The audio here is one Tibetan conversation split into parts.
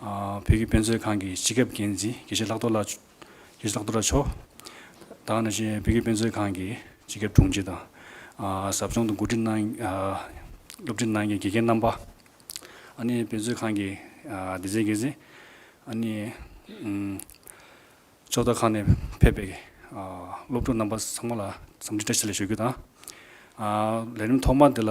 བོད་ཀྱི་དཔེ་མཛོད་ཁང་གི་སྤྱི་ཁྱབ་འགན་འཛིན་དགེ་བཤེས་ལྷག་རྡོར་ལགས། དགེ་བཤེས་ལྷག་རྡོར་ལགས་མཆོག་དང་ནང་བཞིན་བོད་ཀྱི་དཔེ་མཛོད་ཁང་གི་སྤྱི་ཁྱབ་དྲུང་ཆེ་དང། ཟབ་སྦྱོང་དང་གོ་སྒྲིག་གནང། སློབ་ཁྲིད་གནང་མཁན་དགེ་རྒན་རྣམ་པ། ཨ་ནི་དཔེ་མཛོད་ཁང་གི་སྡེ་ཚན་འགན་འཛིན། ཨ་ནི། ཕྱོགས་མཐའ་ཁག་ནས་ཕེབས་པའི་སློབ་ཕྲུག་རྣམ་པ་ཚང་མ་ལ་འཚམས་འདྲི་བཀྲ་ཤིས་ལ་ཞུ་རྒྱུ་དང། ལས་རིམ་ཐོག་མ་འདི་ལ་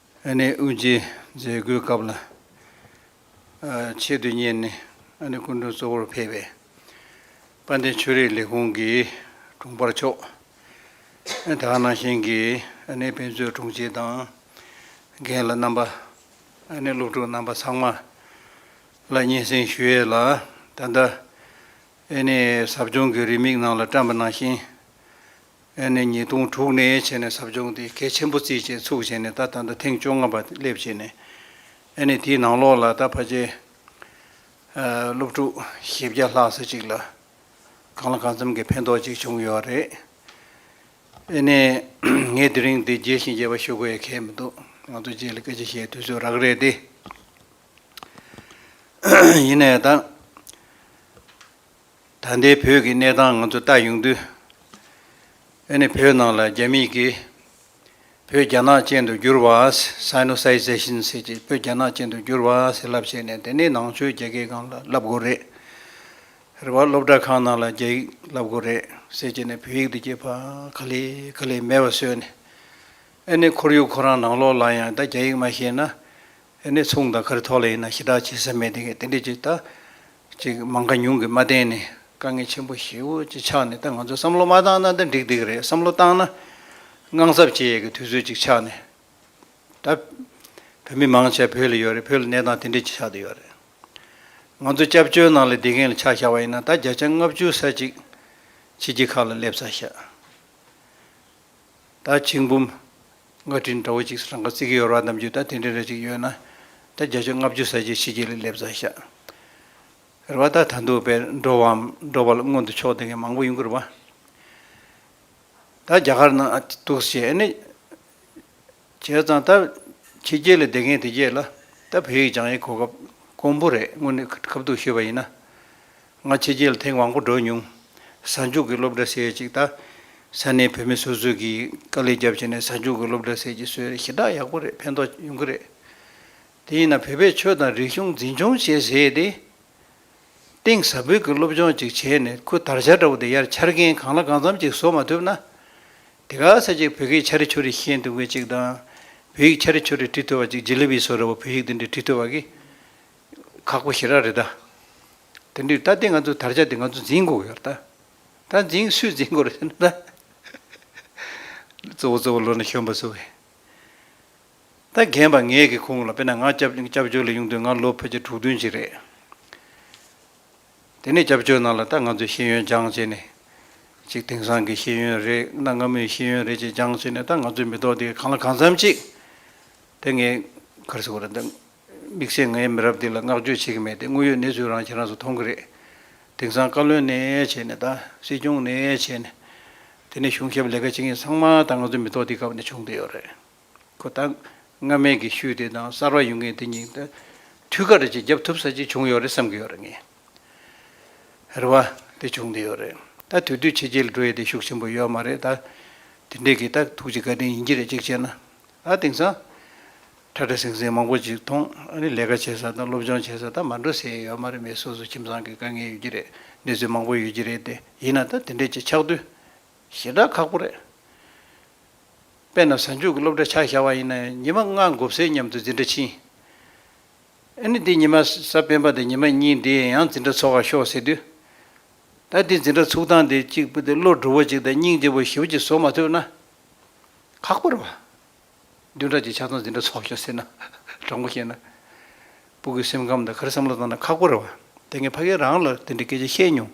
ཨ་ནེ་དབུ་འབྱེད་མཛད་སྒོའི་སྐབས་ལ་ཆེད་དུ་གཉེར་ནས་ཨ་ནེ་སྐུ་མགྲོན་གཙོ་བོར་ཕེབས་པའི་དཔལ་ལྡན་ཆོས་རིག་ལས་ཁུངས་ཀྱི་དྲུང་འཕར་མཆོག་དག་སྣང་ཞིང་གིས་ཨ་ནེའི་དཔེ་མཛོད་དྲུང་ཆེ་དང་རྒན་ལ་རྣམ་པ། ཨ་ནེའི་སློབ་ཕྲུག་རྣམ་པ་ཚང་མ་ལ་སྙན་སེང་ཞུས་ཡས་ལ་ད་ལྟ་ཨ་ནེའི་ཟབ་སྦྱོང་གི་རེའུ་མིག་ནང་ལ་བཀྲམ་པ་ནང་བཞིན། ཨེ་ནས་ཉིས་སྟོང་དྲུག་ནས་བྱས་ནས་ཟབ་སྦྱོང་དེ་གལ་ཆེན་པོ་རྩིས་བཅས་ཚུགས་བྱས་ནས་ད་ད་ལྟ་ཐེངས་བཅོ་ལྔ་པ་སླེབས་བྱས་ནས་ཨེ་ནས་དེའི་ནང་ལོགས་ལ་ད་ཕ་ཆེ་སློབ་ཕྲུག་བཞི་བརྒྱ་ལྷག་ས་གཅིག་ལ་གང་ལ་གང་འཚམ་གྱི་ཕན་ཐོགས་ཅིག་བྱུང་ཡོད་རེད། ཨེ་ནས་ངས་དེ་རིང་འདི་རྒྱས་ཤིང་རྒྱས་པ་ཞུ་དགོས་ཡ་གལ་མི་འདུག་ང་ཚོ་རྗེས་ལ་སྐད་ཆ་བཤད་དུས་ཚོད་རག་རེད་དེ། ཡིན་ནའི་ད། ད་ལྟའི་བོད་ཀྱི་གནས་སྟངས་ང་ཚོ་ལྟ་ཡོང་དུས། ཨེ་ནི་བོད་ནང་ལ་རྒྱ་མིས་ཀྱིས་བོད་རྒྱ་ནག་ཅན་དུ་བསྒྱུར་བ། Sinosization། ཟེར་གྱི་བོད་རྒྱ་ནག་ཅན་དུ་བསྒྱུར་བ་ཟེར་ལབ་བྱས་ནས་དེ་ནི་ནང་ཆོས་རྒྱ་སྐད་ཁང་ལ་ལབ་དགོས་རེད། རེ་བ་སློབ་གྲྭ་ཁང་ནང་ལ་རྒྱ་ཡིག་ལབ་དགོས་རེད་ཟེར་གྱི་ནས་བོད་ཡིག་འདི་གྱི་བ་ག་ལེ་ག་ལེ་མེད་པ་བཟོས་ནས། ཨེ་ནི་ཁོར་ཡུག་ཁོ་རང་ནང་ལོག་ལ་ཡང་ད་རྒྱ་ཡིག་མ་ཤེས་ན་ཨེ་ནས་ཚོང་དང་ཁར་ཐོག་ལས་ཡིན་ན་ཞི་དྲག་བྱེད་ས་མེད་དེ་གས་དེ་འདྲས་ཀྱི་ད་ཅིག་མང་ཁ་ཉུང་གི་མ་བསྟན་ནས་དཀའ་ངལ་ཆེན་པོ་ཞེ་བོ་ཅིག་ཆགས་ནས་ད་ང་ཚོ་བསམ་བློ་མ་བཏང་ན་ད་འགྲིག་འགྲིག་རེད་བསམ་བློ་བཏང་ན་དངངས་འཚབ་བྱེད་ཡས་གི་དུས་ཚོད་ཅིག་ཆགས་ནས་ད་བོད་མི་མང་ཆ་བོད་ལ་ཡོད་རེད་བོད་ལ་གནས་སྟངས་དེ་འདྲས་ཅིག་ཆགས་དུ་ཡོད་རེད་ང་ཚོ་སྐྱབས་བཅོལ་ནང་ལ་བསྡད་མཁན་ལ་ཆགས་བཞག་པ་ཡིན་ན་ད་བརྒྱ་ཆ་ལྔ་བཅུ་ས་ཅིག་ཕྱི་རྒྱལ་ཁག་ལ་སླེབས་ཚར་ཤག། ད་ཆིག་འབུམ། སྔ་དྲིན་འདྲ་བོ་ཅིག་རང་ག་རྩིས་ཀྱི་ཡོར་བ་རྣམས་ཀྱིས་ད་དེ་འདྲའི་རེ་ཅིག་ཡོད་ན། ད་བརྒྱ་བཅོ་ལྔ་བཅུ་ཟ་རྗེས་ཕྱི་རྒྱལ་ལས་སླེབས་ཚར་ཤག། རེ་བ་ད་ད་འདུག་པས་འགྲོ་བའམ་འགྲོ་བ་ལ་སྔོན་དུ་ཕྱོགས་འདེང་མཁན་མང་པོ་ཡོང་གི་རེད་བ། ད་རྒྱ་གར་ན་འདུག་ཟེར་ཨེ་ནི། བྱས་ཙང་ད་ཕྱི་རྒྱལ་ལས་བསྡད་མཁན་དེ་རྗེས་ལ་ད་བོད་ཡིག་སྦྱང་ཡའི་གོ་སྐབས་དཀོན་པོ་རེད་སྔོན་ནས་ཁ་ཐུག་ཤོད་པ་ཡིན་ན། སྔ་ཕྱི་རྗེས་ལ་ཐེངས་མང་པོ་བགྲོས་མྱོང། གཟའ་མཇུག་གི་སློབ་གྲྭ་ཟེར་ཡས་ཅིག་ད། ས་གནས་བུད་མེད་སོ་སོས་ཀྱིས་དཀའ་ལས་རྒྱབ་བྱས་ནས་གཟའ་མཇུག་གི་སློབ་གྲྭ་ཟེར་གྱི་སྲོལ་རེད་ཞེ་དྲག་ཡག་པོ་རེད་ཕན་ཐོགས་ཡོང་གི་རེད། དེ་ཡིན་ན་བོད་པའི་ཆོས་དང་རིག་གཞུང་འཛིན་སྐྱོང་བྱེད་ཟེར་ཏེ། གཏིང་ཟབ་འབུད་ཀྱི་སློབ་སྦྱོང་ཅིག་བྱས་ནས་ཁུ་དར་ཆ་འདྲ་བོ་དེ་ཡར་འཕྱར་མཁན་གང་ལ་གང་འཚམ་ཅིག་བཟོ་མ་ཐུབ་ན། དེ་ག་ས་ཅིག་བོད་སྐད་འཆར་འཆོར་རེ་ཤེས་འདུག་མཁན་ཅིག་དང། བོད་ཡིག་འཆར་འཆོར་རེ་བྲི་ཐུབ་པ་ཅིག་རྗེ་ལི་བིས་སོ་ར་བ་བོད་ཡིག་འདི་འདྲ་བྲི་ཐུབ་པ་གིས། ཁག་པོ་ཞི་རག་རེད་ད། དེ་འདྲའི་ད་དེ་ང་ཚོ་དར་ཆ་དེ་ང་ཚོ་འཛིན་དགོས་ཡོད་རེད་ད། ད་འཛིན་སུས་འཛིན་དགོས་རེད་ཟེར་ན་ད། གཙོ་བོ་གཙོ་བོ་ལོ་ན་གཞོན་པ་ཚོ་བས། ད་རྒན་པ་ངས་གི་ཁུངས་ལ་དཔེར་ན་ང་སྐྱབས་བཅོལ་ལ་ཡོང་དུས་ང་ལོ་ཕལ་ཆེར་དྲུག་བདུན་ཅིག་རེད། དེ་ནས་སྐྱབས་བཅོལ་ནང་ལ་ད་ང་ཚོས་ཤེས་ཡོན་སྦྱངས་བྱས་ནས། ཅིག་དེང་སང་གི་ཤེས་ཡོན་རེད་གནའ་སྔ་མོའི་ཤེས་ཡོན་རེད་ཅེས་སྦྱངས་བྱས་ནས་ད་ང་ཚོའི་མི་ཐོག་དེ་གང་ལ་གང་འཚམ་ཅིག་དེ་ངས་གར་སོང་རེད་ད། དམིགས་བསལ་ངའི་མི་རབས་འདི་ལ་བསྔགས་བརྗོད་བྱེད་ཀྱི་མེད་དེ་དངོས་ཡོད་གནས་ཚུལ་རང་ཁྱེད་རང་ཚོ་མཐོང་གི་རེད། དེང་སང་བཀའ་བློན་ནས་བྱས་ནས་ད་སྲིད་སྐྱོང་ནས་བྱས་ནས། དེ་ནས་གཞུང་ཞབས་ལས་ཀ་བྱེད་མཁན་ཚང་མ་ད་ང་ཚོའི་མི་ཐོག་འདིའི་སྐབས་ནས་བྱུང་བསྡད་ཡོད་རེད། ཁོ་ད་སྔ་མའི་དགེ་བཤུས་དེ་དང་གསར་བ་ཡོང་མཁན་དེ་གཉིས་ད་དུས་ཁ་རེ་ཅིག་རྒྱབ་ཐུབ་ས་ཅིག་བྱུང་ཡོད་རེད་བསམ་གྱི་ཡོད་རེད་ངས། རེ་བ་དེ་བྱུང་བསྡད་ཡོད་རེད། ད་དུས་དུས་ཕྱི་རྒྱལ་འགྲོ་ཡས་དེ་ཤུགས་ཆེན་པོ་ཡོད་མ་རེད་ད། དེ་འདྲས་ཀྱི་ད་ཐུགས་རྗེ་དགའ་དྲིན་ཡིན་གྱི་རེད་གཅིག་བྱས་ན། ད་དེང་སང། ཁྲ་ཁྲ་ཟིང་ཟིང་མང་པོ་ཅིག་མཐོང། ཨ་ནི་ལས་ཀ་བྱེད་ས་དང་སློབ་སྦྱོང་བྱེད་ས་ད་མ་འགྲོ་ཟེར་ཡས་ཡོད་མ་རེད་མི་སོ་སོ་ཁྱིམ་ཚང་གི་དཀའ་ངལ་ཡོད་ཀྱི་རེད་གནས་ཚུལ་མང་པོ་ཡོད་ཀྱི་རེད་དེ་ཡིན་ན་ད་དེ་འདྲས་ཅིག་ཆགས་དུས་ཞེ་དྲག་ཁག་པོ་རེད། དཔེ་ན་གཟའ་མཇུག་གི་སློབ་གྲྭ་ཆགས་བཞག་པ་ཡིན་ན་ཡང་ཉི་མ་ལྔ་འགོར་ཚེ་མཉམ་དུ་འཛིན་གྲྭ་ཕྱིན། ཨ་ནི་འདི་ཉི་མ་གཟའ་སྤེན་པ་དང་ཉི་མ་གཉིས་འདི་ཡང་འཛིན་གྲྭ་ཚོགས་ཁ་ཤོག་ཟེར་དུས། ད་འདི་འཛིན་གྲྭ་ཚུགས་སྟངས་འདི་གཅིག་པུ་དེ་བློ་གྲུ་བོ་གཅིག་དང་སྙིང་རྗེ་བོ་བཞི་བོ་གཅིག་བཟོ་མ་ཐུབ་ན་ཁག་པོ་རེད་བ། བདུན་ཕྲག་གཅིག་ཆ་ཚང་འཛིན་གྲྭ་ཚོགས་ཤོག་ཟེར་ན། དྲང་པོ་བཤད་ན། སྤུ་གུས་སེམས་ཁམས་དང་ག་རེ་བསམ་བློ་བཏང་ན་ཁག་པོ་རེད་བ། དེ་སྔའི་ཕ་རྒན་རང་ལ་དེ་འདྲའི་སྐད་ཆ་བཤད་མྱོང།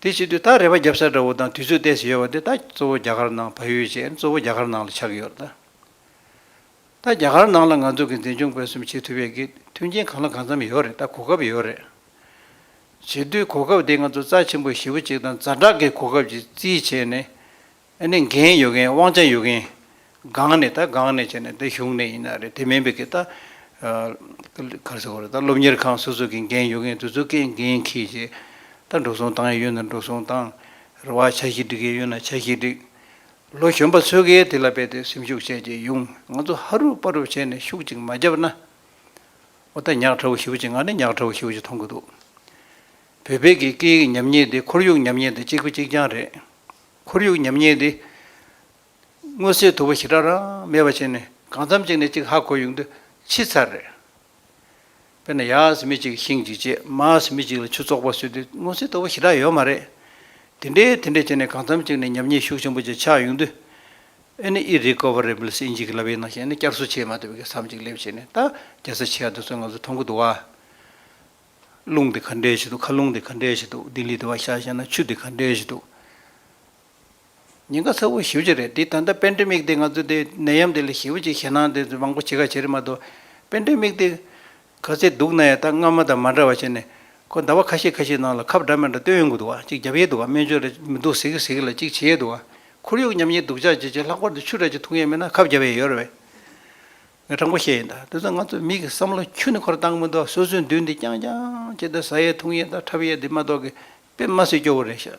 དེ་བྱེད་དུས་ད་རེ་བ་བརྒྱབ་ས་འདྲ་བོ་དང་དུས་ཚོད་གཏད་ས་ཡོད་བ་དེ་ད་གཙོ་བོ་རྒྱ་གར་ནང་བལ་ཡུལ་ཅན་གཙོ་བོ་རྒྱ་གར་ནང་ལ་ཆགས་ཀྱི་ཡོད། ད་རྒྱ་གར་ནང་ལ་ང་ཚོ་གི་འཛིན་སྐྱོང་སྤེལ་གསུམ་བྱེད་ཐུབ་ཡས་ཀྱི་མཐུན་རྐྱེན་གང་ལ་གང་འཚམ་ཡོད་རེད་ད་གོ་སྐབས་ཡོད་རེད། བྱེད་དུས་གོ་སྐབས་དེ་ང་ཚོ་རྩ་ཆེན་པོ་བཞི་བོ་གཅིག་དང་རྫ་དྲག་གི་གོ་སྐབས་ཀྱི་རྩིས་བྱས་ནས་ཨ་ནི་འགན་ཡོད་མཁན་དབང་ཆ་ཡོད་མཁན། སྒང་ནས་ད་སྒང་ནས་བྱས་ནས་ད་གཞུང་ནས་ཡིན་ན་རེད་དེ་མིན་པའི་གི་ད། གར་ཟེར་བ་རེད་ད་སློབ་གཉེར་ཁང་སོ་སོ་གི་འགན་ཡོད་མཁན་དུ་ཚོ་གའི་འགན་ཁྱེད་ཀྱི། ད་འགྲོ་སོང་བཏང་ཡས་ཡོད་ན་འགྲོ་སོང་བཏང། རེ་བ་བྱ་ཞིག་འགྲིག་ཡས་ཡོད་ན་བྱ་ཞིག་འགྲིག། ལོ་གཞོན་པ་ཚོས་གའི་དེ་ལ་རྦད་དེ་སེམས་ཤུགས་བྱས་རྗེས་ཡུང་ང་ཚོ་ཧ་རུབ་པ་རུབ་བྱས་ནས་ཤུགས་ཅིག་མ་རྒྱབ་ན། འོ་ད་ཉག་ཕྲ་བོ་ཞིག་བུ་ཅིག་ང་ནི་ཉག་ཕྲ་བོ་ཞིག་བུ་ཅིག་མཐོང་གི་འདུག། བོད་པའི་གི་སྐད་ཡིག་ཉམས་ཉེས་དེ་ཁོར་ཡུག་ཉམས་ཉེས་དང་གཅིག་པུ་གཅིག་རྐྱང་རེད། ཁོར་ཡུག་ཉམས་ཉེས་འདི། སྔོན་སྲིད་དུ་བ་ཞི་དྲག་རང་མེད་པ་བྱས་ནས་གང་འཚམ་གཅིག་ནས་གཅིག་ཧ་གོ་ཡུག་འདི་ཕྱི་ཚར་རེད། དཔེར་ན་ཡགས་མི་གཅིག་ཤིང་གཅིག་བཅད་མགས་མི་གཅིག་ལ་ཆུ་བཙོག་པ་བཟོས་དུས་སྔོན་སྲིད་དུ་བ་ཞི་དྲག་ཡོད་མ་རེད། དེ་འདྲས་དེ་འདྲས་བྱས་ནས་གང་འཚམ་གཅིག་ནས་ཉམས་ཉེས་ཤུགས་ཆེན་པོ་ཅིག་ཆགས་ཡུག་འདི། ཨེ་ནི་ཨི་རི་ཀོ་བ་རི་བིལ་སི་ཨིནཇི་ཀི་ལ་བའི་ནང་བཤད་ནས་བསྐྱར་གསོ་བྱས་མ་ཐུབ་པའི་གེ་སར་མ་གཅིག་སླེབས་བྱས་ནས་ད་རྒྱལ་ས་ཆེ་ཡགས་འདི་ཚོའི་ང་ཚོ་མཐོང་གི་འདུག་བ། རླུང་དེ་ག་འདྲའི་གཞི་འདུག་ཁ་རླུང་དེ་ག་འདྲའི་གཞི་འདུག་ལྡི་ལི་དེ་བ་ཤ་ཤ་ན་ཆུ་དེ་ག་འདྲའི་གཞི་འདུག། ཉེན་ཁ་ཚ་བོ་ཞི་བ་གཅིག་རེད་འདི་ད་ལྟ་དཔེ་འདྲེ་མིག་དེ་ང་ཚོ་དེ་ནད་ཡམས་དེ་ལས་ཞི་བ་གཅིག་ཞེད་སྣང་དེ་མང་པོ་བྱེད་ཁ་བྱེད་རེད་མ་གཏོགས་དཔེ་འདྲེ་མིག་དེ་ག་ཚད་སྡུག་ན་ཡང་ད་སྔ་མ་དང་མ་འདྲ་བ་བྱས་ནས་ཁོ་ཟླ་བ་ཁ་ཤས་ཁ་ཤས་ནང་ལ་ཁབ་འདྲ་མི་འདྲ་བཏོན་ཡོང་གི་འདུག་གཅིག་བརྒྱབ་ཡས་འདུག་སྨན་བཅོས་ལ་མི་འདུག་ཟེར་གི་ཟེར་གི་ལ་གཅིག་བྱེད་ཡས་འདུག་ཁོར་ཡུག་ཉམས་ཉེས་སྡུག་ཅག་བྱེད་བྱེད་ལྷག་པར་དུ་ཆུ་ར་གཅིག་འཐུང་ཡས་མེད་ན་ཁབ་བརྒྱབ་ཡས་ཡོད་རེད། ངས་དྲང་པོ་བཤད་ཡིན་དཱ་དེ་ཚོ་ང་ཚོའི་མིག་གི་བསམ་བློ་འཁྱུད་ནས་འཁོར་བཏང་མི་འདུག་སོ་སོའི་མདུན་དེ་རྐྱང་རྐྱང་བྱས་ཏེ་ཟ་ཡའི་འཐུང་ཡའི་དང་འཁྲབ་ཡའི་དེ་མ་གཏོགས་གི་དཔེ་མ་སྲིད་སྐྱོ་བོ་རེད་ཤག་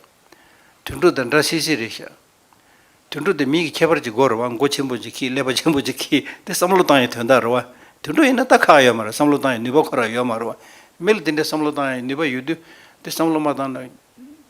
དུད་འགྲོ་དང་འདྲ་སིད་སིད་རེད་ཤག་དུད་འགྲོ་དེ་མིའི་གི་ཁྱད་པར་གྱི་སྒོ་རེད་བ་མགོ་ཆེན་པོ་ཅིག་གིས་ཀླད་པ་ཆེན་པོ་ཅིག་གིས་དེ་བསམ་བློ་བཏང་ཡའི་དོན་དག་རེད་བ་དུད་འགྲོ་ཡིན་ན་ལྟ་ཁག་ཡོད་མ་རེད་བསམ་བློ་བཏང་ཡའི་ནུས་པ་ཁོ་ར་ཡོད་མ་རེད་བ་མི་ལ་དེ་འདྲའི་བསམ་བློ་བཏང་ཡའི་ནུས་པ་ཡོད་དུས་དེ་བསམ་བློ་མ་བཏང་ན།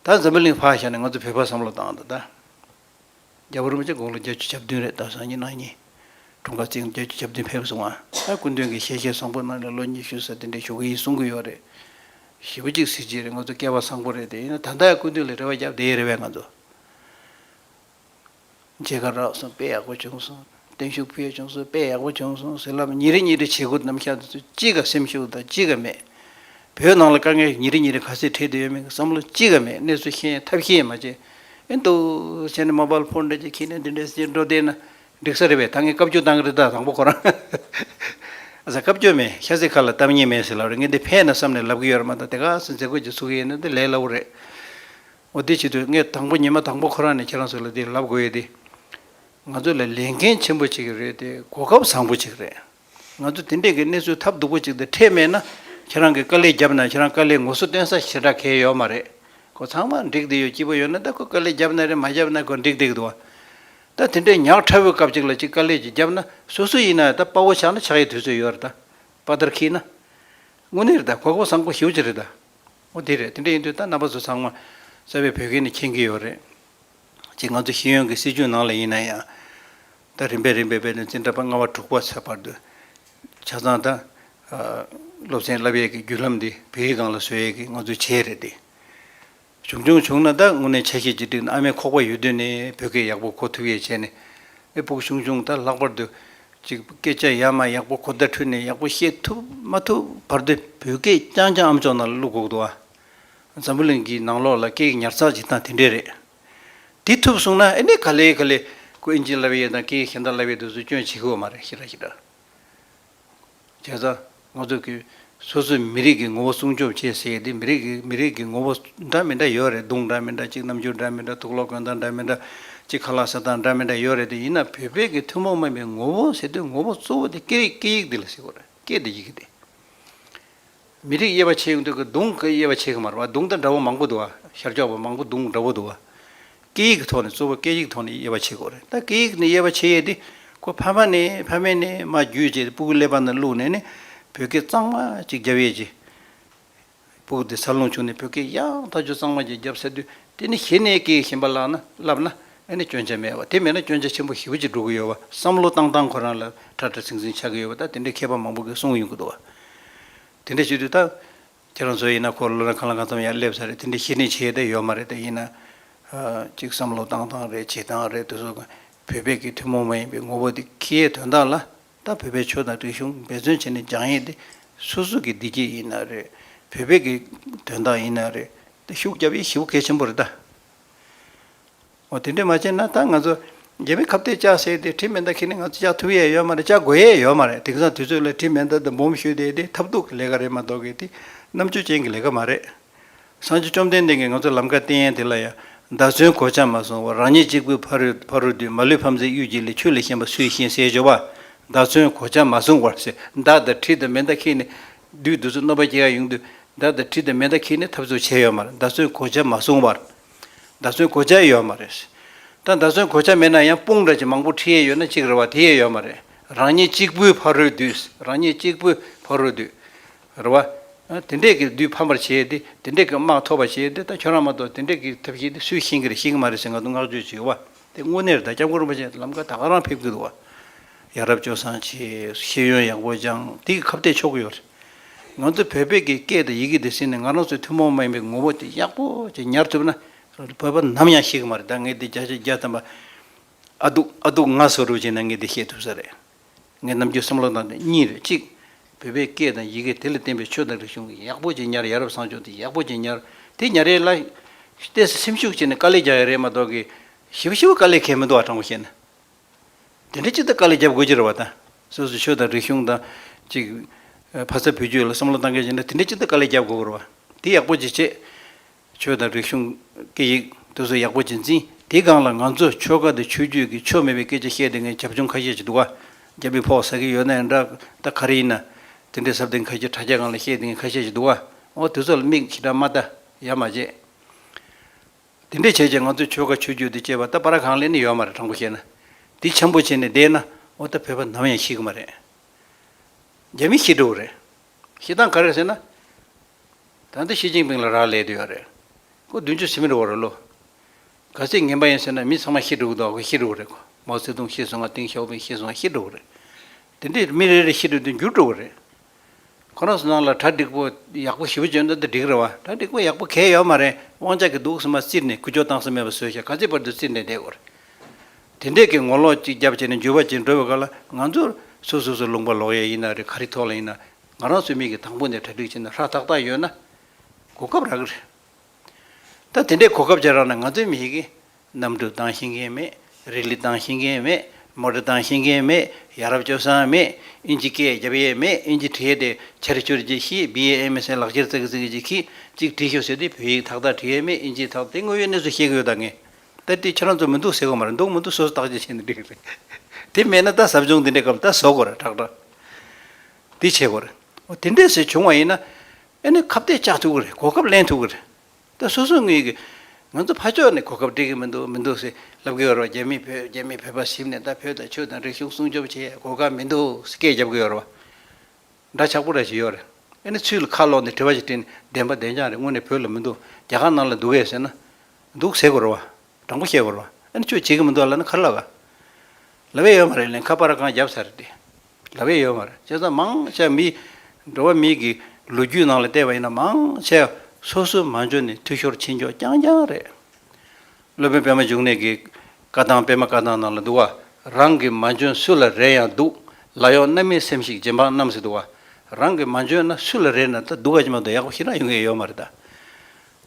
ད་འཛམ་བུ་གླིང་བྷག་ཤ་ནི་ང་ཚོ་བོད་པ་བསམ་བློ་བཏང་ད་ད། རྒྱ་བོད་རུ་མི་ཆ་དགུང་ལོ་བརྒྱད་ཅུ་གྱ་བདུན་རེད་ད་སང་ཉིན་གནངས་ཉིན་དྲུང་བཀའ་བསྟན་བརྒྱད་ཅུ་གྱ་བདུན་ཕེབས་སོང་ང་ད་སྐུ་མདུན་གྱི་ཞལ་ཤེས་བཟང་པོ་གནང་ནས་ལོ་ཉི་ཤུ་ཟ་དེ་འདྲའི་བཞུགས་གི་ཡིན་གསུང་གི་ཡོད་རེད། བཞི་བོ་གཅིག་གཟི་བརྗིད་རེད་ང་ཚོ་སྐལ་བ་བཟང་པོ་རེད་དེ་ཡིན་ན་ད་ད་ཡང་སྐུ་མདུན་ལ་རེ་བ་བརྒྱབ་བསྡད་ཡོད་རེད་བས་ང་ཚོ། མཇལ་ཁ་རག་སོང་དཔེ་ཡག་པོ་བྱུང་སོང་བརྟན་བཞུགས་ཕུལ་བྱུང་སོང་དཔེ་ཡག་པོ་བྱུང་སོང་ཟེར་ལབ་ཉིན་རེ་ཉིན་རེ་བྱེད་སྒོ་ནམ་ཤག་འདི་ཚོས་ཅི་ག་སེམས་ཤུགས་དང་ཅི་ག་མེད། བོད་ནང་ལ་དཀའ་ངལ་ཉིན་རེ་ཉིན་རེ་ག་ཚད་འཕྲད་དུ་ཡོད་མེད་ཀྱི་བསམ་བློ་ཅི་ག་མེད་གནས་ཚུལ་ཤེས་ཡོན་ཐབས་ཤེས་མ་བྱེད་ཨེ་འདུག་བྱས་ནས་མོ་པལ་ཕོན་འདྲ་ཅིག་ཁྱེར་ནས་འདི་འདྲའི་སྤྱི་འགྲོ་བསྡད་ན་འགྲིག་ས་རེད་བས་ད་ངས་སྐབས་བཅུ་བཏང་གི་རེད་ད་དང་པོ་ཁོ་རང་ཨ་ཙ་སྐབས་བཅུ་མེད་ཤ་ཚིག་ཁ་ལ་གཏམ་ཉེས་མེད་ཟེར་ལབ་རེད་ངས་འདི་ཕན་ན་བསམ་ནས་ལབ་གི་ཡོད་རེད་མ་མཐའ་དེ་ག་ཚོད་མཛད་སྒོ་ཅིག་ཚུགས་ཀྱི་ཡོད་ན་འདི་ལས་སླ་བོ་རེད། ངོ་བདེ་བྱེད་དུས་ངས་དང་པོ་ཉི་མ་དང་པོ་ཁོ་རང་ནས་ཁྱེད་རང་ཚོ་ལ་འདི་ལབ་དགོས་ཡོད་དེ། ང་ཚོ་ལ་ལས་འགན་ཆེན་པོ་ཅིག་རེད་དེ་གོ་སྐབས་བཟང་པོ་ཅིག་རེད། ང་ཚོ་དེ་འདྲས་ཀྱི་གནས་ཚུལ་ཐབས་སྡུག་པོ་ཅིག་འདི་འཕྲད་མེད་ན་ཁྱེད་རང་གིས་དཀའ་ལས་བརྒྱབ་ན་ཁྱེད་རང་དཀའ་ལས་ངོ་སོ་སྟོན་ས་ཞེ་དྲག་གལ་ཡོད་མ་རེད་གོ་ཚང་མ་འགྲིག་བསྡད་ཡོད་སྐྱིད་པོ་ཡོད་ན་ད་ཁོས་དཀའ་ལས་བརྒྱབ་ན་རེད་མ་བརྒྱབ་ན་ཁོས་འགྲིག་བསྡད་འདུག་ད་དེ་འདྲས་ཉག་ཕྲ་བོའི་སྐབས་ཅིག་ལ་ཅིག་དཀའ་ལས་ཅིག་བརྒྱབ་ན་སུ་སུ་ཡིན་ནའང་ད་དཔའ་བོ་ཆགས་ན་ཆགས་ཡས་དུས་ཚོད་ཡོད་རེད་དཔའ་དར་འཁིལ་ན་དངོས་གནས་རེད་གོ་སྐབས་བཟང་པོ་ཞེ་བོ་ཅིག་རེད། ཨོ་དེ་རེད་དེ་འདྲ་ཡིན་དུས་ད་རྣམ་པ་ཚོ་ཚང་མ་རྩ་བའི་བོད་སྐད་ནི་མཁྱེན་གྱི་ཡོད་རེད། གཅིག་ང་ཚོ་ཤེས་ཡོན་གྱི་སྲིད་བྱུས་ནང་ལ་ཡིན་ན་ཡང་ད་རིམ་པས་རིམ་པས་བོད་དོན་བཙན་དྲག་པ་ལྔ་བ་དྲུག་པ་ཚར་བར་དུ་ཆ་ཚང་ད་སློབ་ཚན་བསླབ་ཡས་ཀྱི་བརྒྱུད་ལམ་འདི་བོད་ཡིག་གང་ལ་བཟོ་ཡས་ཀྱི་ང་ཚོའི་བྱས་རེད་དེ། བྱུང་བྱུང་བྱུང་ན་ད་དངོས་གནས་ཆ་ཤས་ཅིག་བསྒྲིགས་ན་ཨ་མའི་ཁོག་པ་ཡོད་དུས་ནས་བོད་སྐད་ཡག་པོ་གོ་ཐུབ་ཡས་བྱས་ནས་ཨེ་ཕུག་བྱུང་བྱུང་ད་ལྷག་པར་དུ་གཅིག་སྐད་ཆ་ཡག་མ་ཡག་པོ་གོ་བརྡ་འཕྲོད་ནས་ཡག་པོ་བཤད་ཐུབ་མ་ཐུབ་བར་དུ་བོད་སྐད་རྐྱང་རྐྱང་ཨམ་ཅོག་ནང་ལ་བླུག་དགོས་འདུག་ཨ། འཛམ་བུ་གླིང་གི་ནང་ལོགས་ལ་སྐད་ཉར་ཚགས་བྱེད་སྟངས་དེ་འདྲས་རེད། དེ་ཐུབ་གསུངས་ན་ཨེ་ནས་ག་ལེ་ག་ལེ་ཁོ་ཨིན་ཇི་ལབ་ཡས་དང་ཀེ་ཧི་ཤན་ཏ་ལབ་ཡས་དུ་སུ་སྐྱོན་བྱེད་ཀི་ཡོད་མ་རེད་ཤི་ར་ཤི་ར། བྱས་ཙང། ང་ཚོ་གི་སོ་སོའི་མི་རིགས་ཀྱི་ངོ་བོ་སྲུང་སྐྱོབ་བྱེད་ཟེར་དེ་མི་རིགས་མི་རིགས་ཀྱི་ངོ་བོ་འདྲ་མི་འདྲ་ཡོད་རེད་གདུང་འདྲ་མི་འདྲ་གཅིག་རྣམ་འགྱུར་འདྲ་མི་འདྲ་ཐུགས་ལོག་གོན་སྟངས་འདྲ་མི་འདྲ་གཅིག་ཁ་ལག་ཟ་སྟངས་འདྲ་མི་འདྲ་ཡོད་རེད་དེ་ཡིན་ན་བོད་པའི་གི་ཐུན་མོང་མིན་པའི་ངོ་བོ་ཟེར་དུས་ངོ་བོ་གཙོ་བོ་དེ་སྐད་རིགས་སྐད་ཡིག་འདི་ལ་ཟེར་དགོས་རེད་སྐད་དེ་ཡིག་དེ། མི་རིགས་དབྱེ་བ་ཕྱེ་ཡོང་དུས་གདུང་གི་དབྱེ་བ་ཕྱེ་གི་མ་རེད་བ་གདུང་དང་འདྲ་བོ་མང་པོ་འདུག་བ་ཤར་ཕྱོགས་པ་མང་པོ་གདུང་འདྲ་བོ་འདུག་བ། སྐད་ཡིག་གི་ཐོག་ནས་གཙོ་བོ་སྐད་ཡིག་གི་ཐོག་ནས་དབྱེ་བ་ཕྱེ་དགོས་རེད་ད་སྐད་ཡིག་ནས་དབྱེ་བ་ཕྱེ་ཡས་དེ་ཁོ་ཕ་མ་ནས་ཕ་མས་ནས་མ་རྒྱུད་བཅས་སྤུ་གུ་ཀླད་པ་ནས་བླུགས་ནས་ནས་བོད་སྐད་གཙང་མ་གཅིག་རྒྱབ་ཡས་ཀྱི། སྤུ་གུ་དེ་ཚར་ལོངས་བྱུང་ནས་བོད་སྐད་ཡང་དག་རྒྱུད་གཙང་མ་གཅིག་རྒྱབ་ཟེར་དུས་དེ་ནི་གཞི་ནས་སྐད་ཡིག་གཞན་པ་བསླབ་ན་བསླབ་ན་ཨེ་ནས་སྐྱོན་ཆ་མེད་བ་དེ་མེད་ན་སྐྱོན་ཆ་ཆེན་པོ་ཞིབ་གཅིག་འགྲོ་གི་ཡོད་བ་བསམ་བློ་བཏང་བཏང་ཁོ་རང་ལ་ཁྲ་ཁྲ་ཚིང་ཚིང་ཆགས་ཀྱི་ཡོད་བ་ད་དེ་འདྲའི་མཁས་པ་མང་པོ་གིས་གསུངས་ཡོང་གི་འདུག་བ་དེ་འདྲ་བྱེད་དུས་ད། ཁྱེད་རང་ཚོ་ཡིན་ན་འཁོར་ལོ་ན་གང་ལ་གང་འཚམ་ཡང་སླེབས་ས་རེད་དེ་འདྲའི་ཤེས་ནི་བྱེད་ཡོད་མ་རེད་ད་ཡིན་ན། ཅིག་བསམ་བློ་བཏང་སྟངས་རེད་བྱེད་སྟངས་རེད་འདུག་བཟོ་བོད་པའི་གི་ཐུན་མོང་མ་ཡིན་པའི་ངོ་བོ་དེ་ཁི་ཡའི་དོན་དག་ལ་ད་བོད་པའི་ཆོས་དང་རིག་གཞུང་འབད་བརྩོན་བྱས་ནས་སྦྱང་ཡས་དེ་སུ་སུ་གི་བདེ་སྐྱིད་ཡིན་ན་རེད་བོད་པའི་གི་དོན་དག་ཡིན་ན་རེད་ད་ཤུགས་རྒྱབ་ཡས་ཞི་བོ་གལ་ཆེན་པོ་རེད་ད། འོ་དེ་འདྲས་མ་བྱས་ན་ད་ང་ཚོ་རྒྱལ་པོའི་ཁབ་གཏད་བཅག་ཟེར་ཏེ་དྲི་མེད་མདའ་ཁྱེར་ནས་ང་ཚོ་བཅག་ཐུབ་ཡས་ཡོད་མ་རེད་བཅག་དགོས་ཡས་ཡོད་མ་རེད་དེང་སང་དུས་ཚོད་ལ་དྲི་མེད་མདའ་དང་འབུམ་ཞུས་དེ་དེ་ཐབས་རྡུགས་ཀྱི་ལས་ཀ་རེད་མ་གཏོགས་གི་དེ་རྣམ་དཔྱོད་ཅན་གྱི་ལས་ཀ་མ་རེད། སང་ཆུ་བཅོམ་ལྡན་འདས་ཀྱིས་ང་ཚོ་ལམ་ཁ་བསྟན་ཡས་དེ་ལ་ཡང་མདའ་མཚོན་གོ་ཆ་མ་སོང་བར་རང་ཉིད་གཅིག་པུས་ཕ་རུ་ཕ་རུ་དུས་མ་ལུས་ཕམ་ཚེ་གཡུལ་འགྱེད་ལས་ཆུ་ལས་གཞན་པ་སུས་ཤེས་ཟེར་ཞོག་བ་མདའ་མཚོན་གོ་ཆ་མ་སོང་བར་ཟེར་མདའ་དང་དྲི་དང་མེད་མདའ་ཁྱེར་ནས་དུས་དུས་ཚོད་གནོད་པ་སྐྱེལ་ཡས་ཡོང་དུས་མདའ་དང་དྲི་དང་མེད་མདའ་ཁྱེར་ནས་ཐབས་ཚུལ་བྱས་ཡོད་མ་རེད་མདའ་མཚོན་གོ་ཆ་མ་སོང་བར། མདའ་ཚོན་གོ་ཆ་ཡོད་མ་རེད། ད་མདའ་ཚོན་གོ་ཆ་མེད་ན་ཡང་དཔུང་འདྲ་ཅིག་མང་པོ་ཁྲི་ཡས་ཡོད་ན་གཅིག་རེ་བ་དེ་ཡས་ཡོད་མ་རེད། རང་ཉིད་གཅིག་པུའི་ཕ་རོལ་དུས་རང་ཉིད་གཅིག་པུའི་ཕ་རོལ་དུས་རེ་བ། དེ་འདྲས་ཀྱི་དུས་ཕམ་པར་བྱས་ཏེ་དེ་འདྲས་ཀྱི་དམག་འཐོར་བར་བྱས་ཏེ་ད་ཁྱོད་རང་མ་གཏོགས་དེ་འདྲས་ཀྱི་ཐབས་ཤེས་དེ་སུས་ཤེས་ཀྱི་རེད་ཤེས་ཀྱི་མ་རེད་ཟེར་ང་ཚོ་བསྔགས་བརྗོད་བྱེད་བ་དེ་དངོས་གནས་རེད་ད་སྐྱབས་མགོན་རིན་པོ་ཆེ་ལམ་ཀ་ད་ག་རང་ཕེབས་ཀྱི་འདུག་བ། ཡ་རབས་སྐྱོ་སངས་ཆེ། ཤེས་ཡོན་ཡག་པོ་སྦྱངས་འདི་ཁ་བརྡས་ཆོག་གི་ཡོད་རེད། ང་ཚོ་བོད་པའི་གི་སྐད་དང་ཡི་གེ་འདི་ཟིན་ནས་ང་རང་ཚོའི་ཐུན་མོང་མ་ཡིན་པའི་ངོ་བོ་དེ་ཡག་པོ་ཅིག་ཉར་ཐུབ་ན། བོད་པ་ནམ་ཡང་ཤེས་གི་མ་རེད་ད་ངས་འདི་བརྒྱ་ཆ་བརྒྱ་ཐམ་པ་ཨ་དུག་ཨ་དུག་ང་སོ་རུ་བྱས་ན་ངས་འདི་ཤེས་ཐུབ་ས་རེད། ངའི་རྣམ་འགྱུར་བསམ་བློ་དང་འདི་གཉིས་རེད་གཅིག། བོད་པའི་སྐད་དང་ཡི་གེ་དེ་ལ་བརྟེན་པའི་ཆོས་དང་རིག་གཞུང་གི་ཡག་པོ་ཅིག་ཉར་ཡ་རབས་བཟང་ཕྱོགས་འདི་ཡག་པོ་ཅིག་ཉར་དེ་ཉར་ཡས་ལ། བལྟས་ས་སེམས་ཤུགས་ཆེ་ནས་དཀའ་ལས་རྒྱག་ཡ་རེད་མ་གཏོགས་གི། ཞི་བ་ཞི་བ་དཀའ་ལས་ཁས་མི་འདུག་ཨ་དྲང་བོ་བཤད་ན། དེ་འདྲ་ཅི་ལྟར་དཀའ་ལས་རྒྱབ་དགོས་ཀྱི་རེད་བ་དང། སོ་སོའི་ཆོས་དང་རིག་གཞུང་དང། ཅིག། ཕ་ས་བུ་རྒྱུད་ལ་བསམ་བློ་གཏང་མཁན་ཡིན་ན་དེ་འདྲའི་ཅི་ལྟར་དཀའ་ལས་རྒྱབ་དགོས་པར་བ། དེ་ཡག་པོ་ཅིག་བྱེད། ཆོས་དང་རིག་གཞུང། སྐད་ཡིག། དུ་སོ་ཡག་པོ་ཅིག་འཛིན། དེའི་སྒང་ལ་ང་ཚོ་ཆོལ་ཁ་དང་ཆོས་རྒྱུད་ཀྱི་ཆོ་མེད་པའི་སྐད་ཆ་བཤད་དེ་ངས་བྱབ་ཆུང་ཁ་ཤས་ཅིག་འདུག་ཨ། རྒྱ་མི་ཕོག་ཟ་གི་ཡོད་ན་ཡང་འདྲ། ད་ག་རེ་ཡིན་ན། དེ་འདྲའི་ཟབ་དེ་ཁ་ཤས་དྲ་རྒྱ་སྒང་ལ་བཤད་དེ་ངས་ཁ་ཤས་ཅིག་འདུག་ཨ། འོ་དེ་ཚོ་ལ་མིག་ཞི་དྲག་མ་ལྟ། ཡ་མ་བྱེད། དེ་འདྲས་བྱས་ཀྱང་ང་ཚོས་ཆོལ་ཁ་ཆོས་བརྒྱུད་དུ་བསྐྱེལ་བ་ལྟ་བ་ར་གང་ལས་ནི་ཡོད་མ་རེད་དྲང་པོ་བཤད་ན། འདི་འཆམ་པོ་བྱས་ནས་བསྡད་ན་འོ་ལྟ་བོད་པ་ནམ་ཡང་ཤི་གི་མ་རེད། རྒྱ་མི་ཤི་འགྲོ་གི་རེད། ཤི་སྟངས་ག་རེ་ཟེར་ན། ད་ལྟ་ཞི་ཅིང་ཕིང་ལ་རག་ལས་དུ་ཡོད་རེད། ཁོ་བདུན་ཅུ་ཟིན་མི་རུང་བ་རེད་ལོ། ག་ཚད་ངན་པ་ཡིན་ཟེར་ན་མི་ཚང་མ་ཤི་འགྲོ་གི་འདུག་ཨ་ཁུ་ཤི་འགྲོ་གི་རེད། མའོ་ཙེ་ཏུང་ཤི་སོང་ང་ཏིང་ཞའོ་ཕིང་ཤི་སོང་ང་ཤི་འགྲོ་གི་རེད། དེ་འདྲས་མི་རེ་རེ་ཤི་འགྲོ་དུས་འགྱུར་འགྲོ་གི་རེད། ཁོ་རང་སུ་ནང་ལ་གྲ་སྒྲིག་པོ་ཡག་པོ་ཞིབ་པོ་བྱོས་ན་འདི་འགྲིག་རེད་བ། གྲ་སྒྲིག་པོ་ཡག་པོ་གལ་ཡོད་མ་རེད་དབང་ཆ་གི་སྡུག་ས་མ་བཙིར་ནས་ཁུ་བྱོ་བཏང་ས་མེད་པ་བཟོས་ཤག་ག་ཚད་པར་དུ་བཙིར་ནས་བསྡད་དགོས་རེད། དེ་འདྲས་ཀྱི་ངོ་ལོག་ཅིག་རྒྱབ་བྱས་ནས་འཇུ་བ་བྱེད་འགྲོ་བའི་སྐབས་ལ་ང་ཚོར་སུ་གཟུགས་སུ་ལུང་པ་ལོག་ཡས་ཡིན་ན་རེད་ག་རེ་ཐོག་ལ་ཡིན་ན་ང་རང་ཚོའི་མིག་གི་དང་པོ་ནས་གྲ་སྒྲིག་བྱས་ན་ཧྲ་ཐག་ཐག་ཡོད་ན་གོ་སྐབས་རག་གི་རེད། ད་དེ་འདྲའི་གོ་སྐབས་ཅན་རག་ན་ང་ཚོའི་མི་ཡི་གེ། གནམ་གྲུ་བཏང་ཤེས་མཁན་མེད། རིག་ལི་བཏང་ཤེས་མཁན་མེད། མོ་ཏོ་བཏང་ཤེས་མཁན་མེད། ཡ་རབས་སྤྱོད་བཟང་མེད། ཨིན་ཇི་སྐད་རྒྱབ་ཡས་མེད་ཨིན་ཇི་བྲིས་ཡས་དེ་ཕྱིར་བསྐྱུར་རྗེས་ཤི BAMSN ལག་ཁྱེར་བཙལ་གི་བཙལ་གི་ཅིག་གིས་ཅིག་བྲིས་ཤོག་ཟེར་དུས་བོད་ཡིག་དག་དག་བྲིས་ཡས་མེད་ཨིན་ཇིའི་དག་དེ་དངོས་ཡོད་གནས་ཚུལ་བཤད་གི་ཡོད་ད་ངས་ད་བྲིས་ཁྱེད་རང་ཚོ་མི་འདུག་ཟེར་གི་མ་རེད་འདུག་མི་འདུག་སོ་སོ་བརྟག་དཔྱད་བྱས་ནས་བྲིས་གི་རེད་དེ་མེད་ན་ད་ཟབ་སྦྱོང་འདི་འདྲའི་སྐབས་ད་བཟོ་དགོས་རེད་དྲག་དྲག་འདི་བྱེད་དགོས་རེད། དེ་འདྲས་ཟེར་བྱུང་བ་ཡིན་ན། ཨེ་ནི་ཁ་བརྡས་བཅག་ཐུབ་ཀྱི་རེད་གོ་སྐབས་གླེང་ཐུབ་ཀྱི་རེད། ད་སོ་སོ་ངོས་ཀྱིས། ང་ཚོ་ཕ་ཕྱོགས་ནས་གོ་སྐབས་སྤྲད་ཀྱི་མི་འདུག་མི་འདུག་ཟེར་ལབ་ཀྱི་ཡོད་རེད་རྒྱ་མིས་བོད་རྒྱ་མིས་བོད་པ་ཟིམ་ནས་ད་བོད་དང་ཆོས་དང་རིག་གཞུང་སྲུང་སྐྱོབ་བྱེད་ཡས་གོ་སྐབས་མི་འདུག་ཟེར་སྐད་རྒྱབ་ཀྱི་ཡོད་རེད། འདྲ་ཆགས་པོ་རེད་ཞིག་ཡོད་རེད། ཨེ་ནི་ཚུལ་ཁ་ལོག་ནས་དྲི་བ་ཞིག་དྲིས་ནས་བདེན་པ་བདེན་ཅག་རེད་དངོས་ནས་བོད་ལ་མི་འདུག་རྒྱ་གར་ནང་ལ་འདུག་གས་ཟེར་ན། འདུག་ཟེར་དགོས་རེད་བ། དྲང་པོ་བཤད་དགོས། ཨ་ནི་ཁྱོད་བྱེད་ཀྱི་མི་འདུག་ལ་ནི་ཁར་ལབ་ཨ། ལབ་ཨེ་ཡོད་མ་རེད་ལན་ཁ་པར་ར་གང་བརྒྱབ་ཚར་རེད་དེ། ལབ་ཨེ་ཡོད་མ་རེད་བྱས་ཙང་མང་ཆེ་མི། འགྲོ་བ་མི་གི་ལོ་རྒྱུས་ནང་ལ་བལྟས་པ་ཡིན་ན་མང་ཆེ། སོ་སོའི་མ་འཇོན་ནི་འཐུས་ཤོར་ཕྱི་འཇོག་རྐྱང་རྐྱང་རེད། སློབ་དཔོན་པད་མ་འབྱུང་གནས་ཀྱི་བཀའ་ཐང་པད་མ་བཀའ་ཐང་ནང་ལ་འདུག་ཨ། རང་གི་མ་འཇོན་སུ་ལ་རེ་ཡང་འདུག་ལ་ཡོང་ན་མི་སེམས་ཤིག་རྗེ་འབངས་རྣམས་སུ་འདུག་ཨ། རང་གི་མ་འཇོན་ན་སུ་ལ་རེ་ན་ད་འདུག་ཨ་ཅི་མ་འདུག་ཡག་པོ་ཤི་ན་ཡོང་གི་ཨེ་ཡོད་མ་རེད་ད།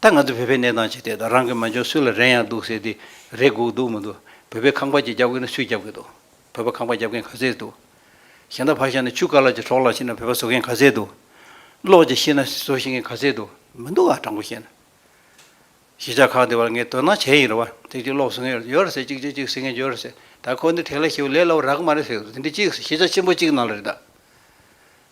ད་ང་ཚོ་བོད་པའི་གནས་སྟངས་ཇི་ལྟའི་དང་རང་གི་མ་འཇོན་སུ་ལ་རན་ཡང་འདུག་ཟེར་དེ་རེད་སྒུག་འདུག་མི་འདུག་བོད་པའི་ཁང་པ་གཅིག་རྒྱབ་དགོས་ན་སུས་རྒྱབ་གི་འདུག་བོད་པ་ཁང་པ་རྒྱབ་མཁན་ག་ཚད་འདུག་གཞན་དག་ཕར་བཞག་ན་ཆུ་དཀར་ལགས་ཀྱི་གྲོགས་ལགས་ཤི་ན་བོད་པ་བཟོ་མཁན་ག་ཚད་འདུག་གློག་ཅིག་ཤི་ན་བཟོ་ཤེས་མཁན་ག་ཚད་འདུག་མི་འདུག་ག་དྲང་པོ་བཤད་ན། གཞིས་ཆགས་ཁག་འདི་བར་ངས་དོ་སྣང་བྱས་ཡིན་རེད་བ་ཚིག་གཅིག་གློག་བཟོ་མཁན་ཡོད་རེད་ཟེར་གཅིག་ཆུ་གཅིག་བཟོས་མཁན་ཡོད་རེད་ཟེར་ད་ཁོ་འདི་དྲེགས་ལ་ཤི་བ་ལས་སླ་བོ་རག་གི་མ་རེད་ཟེར་གི་འདུག་འདི་འདྲི་གཅིག་གཞིས་ཆགས་ཆེན་པོ་གཅིག་ནང་ལ་རེད་ད།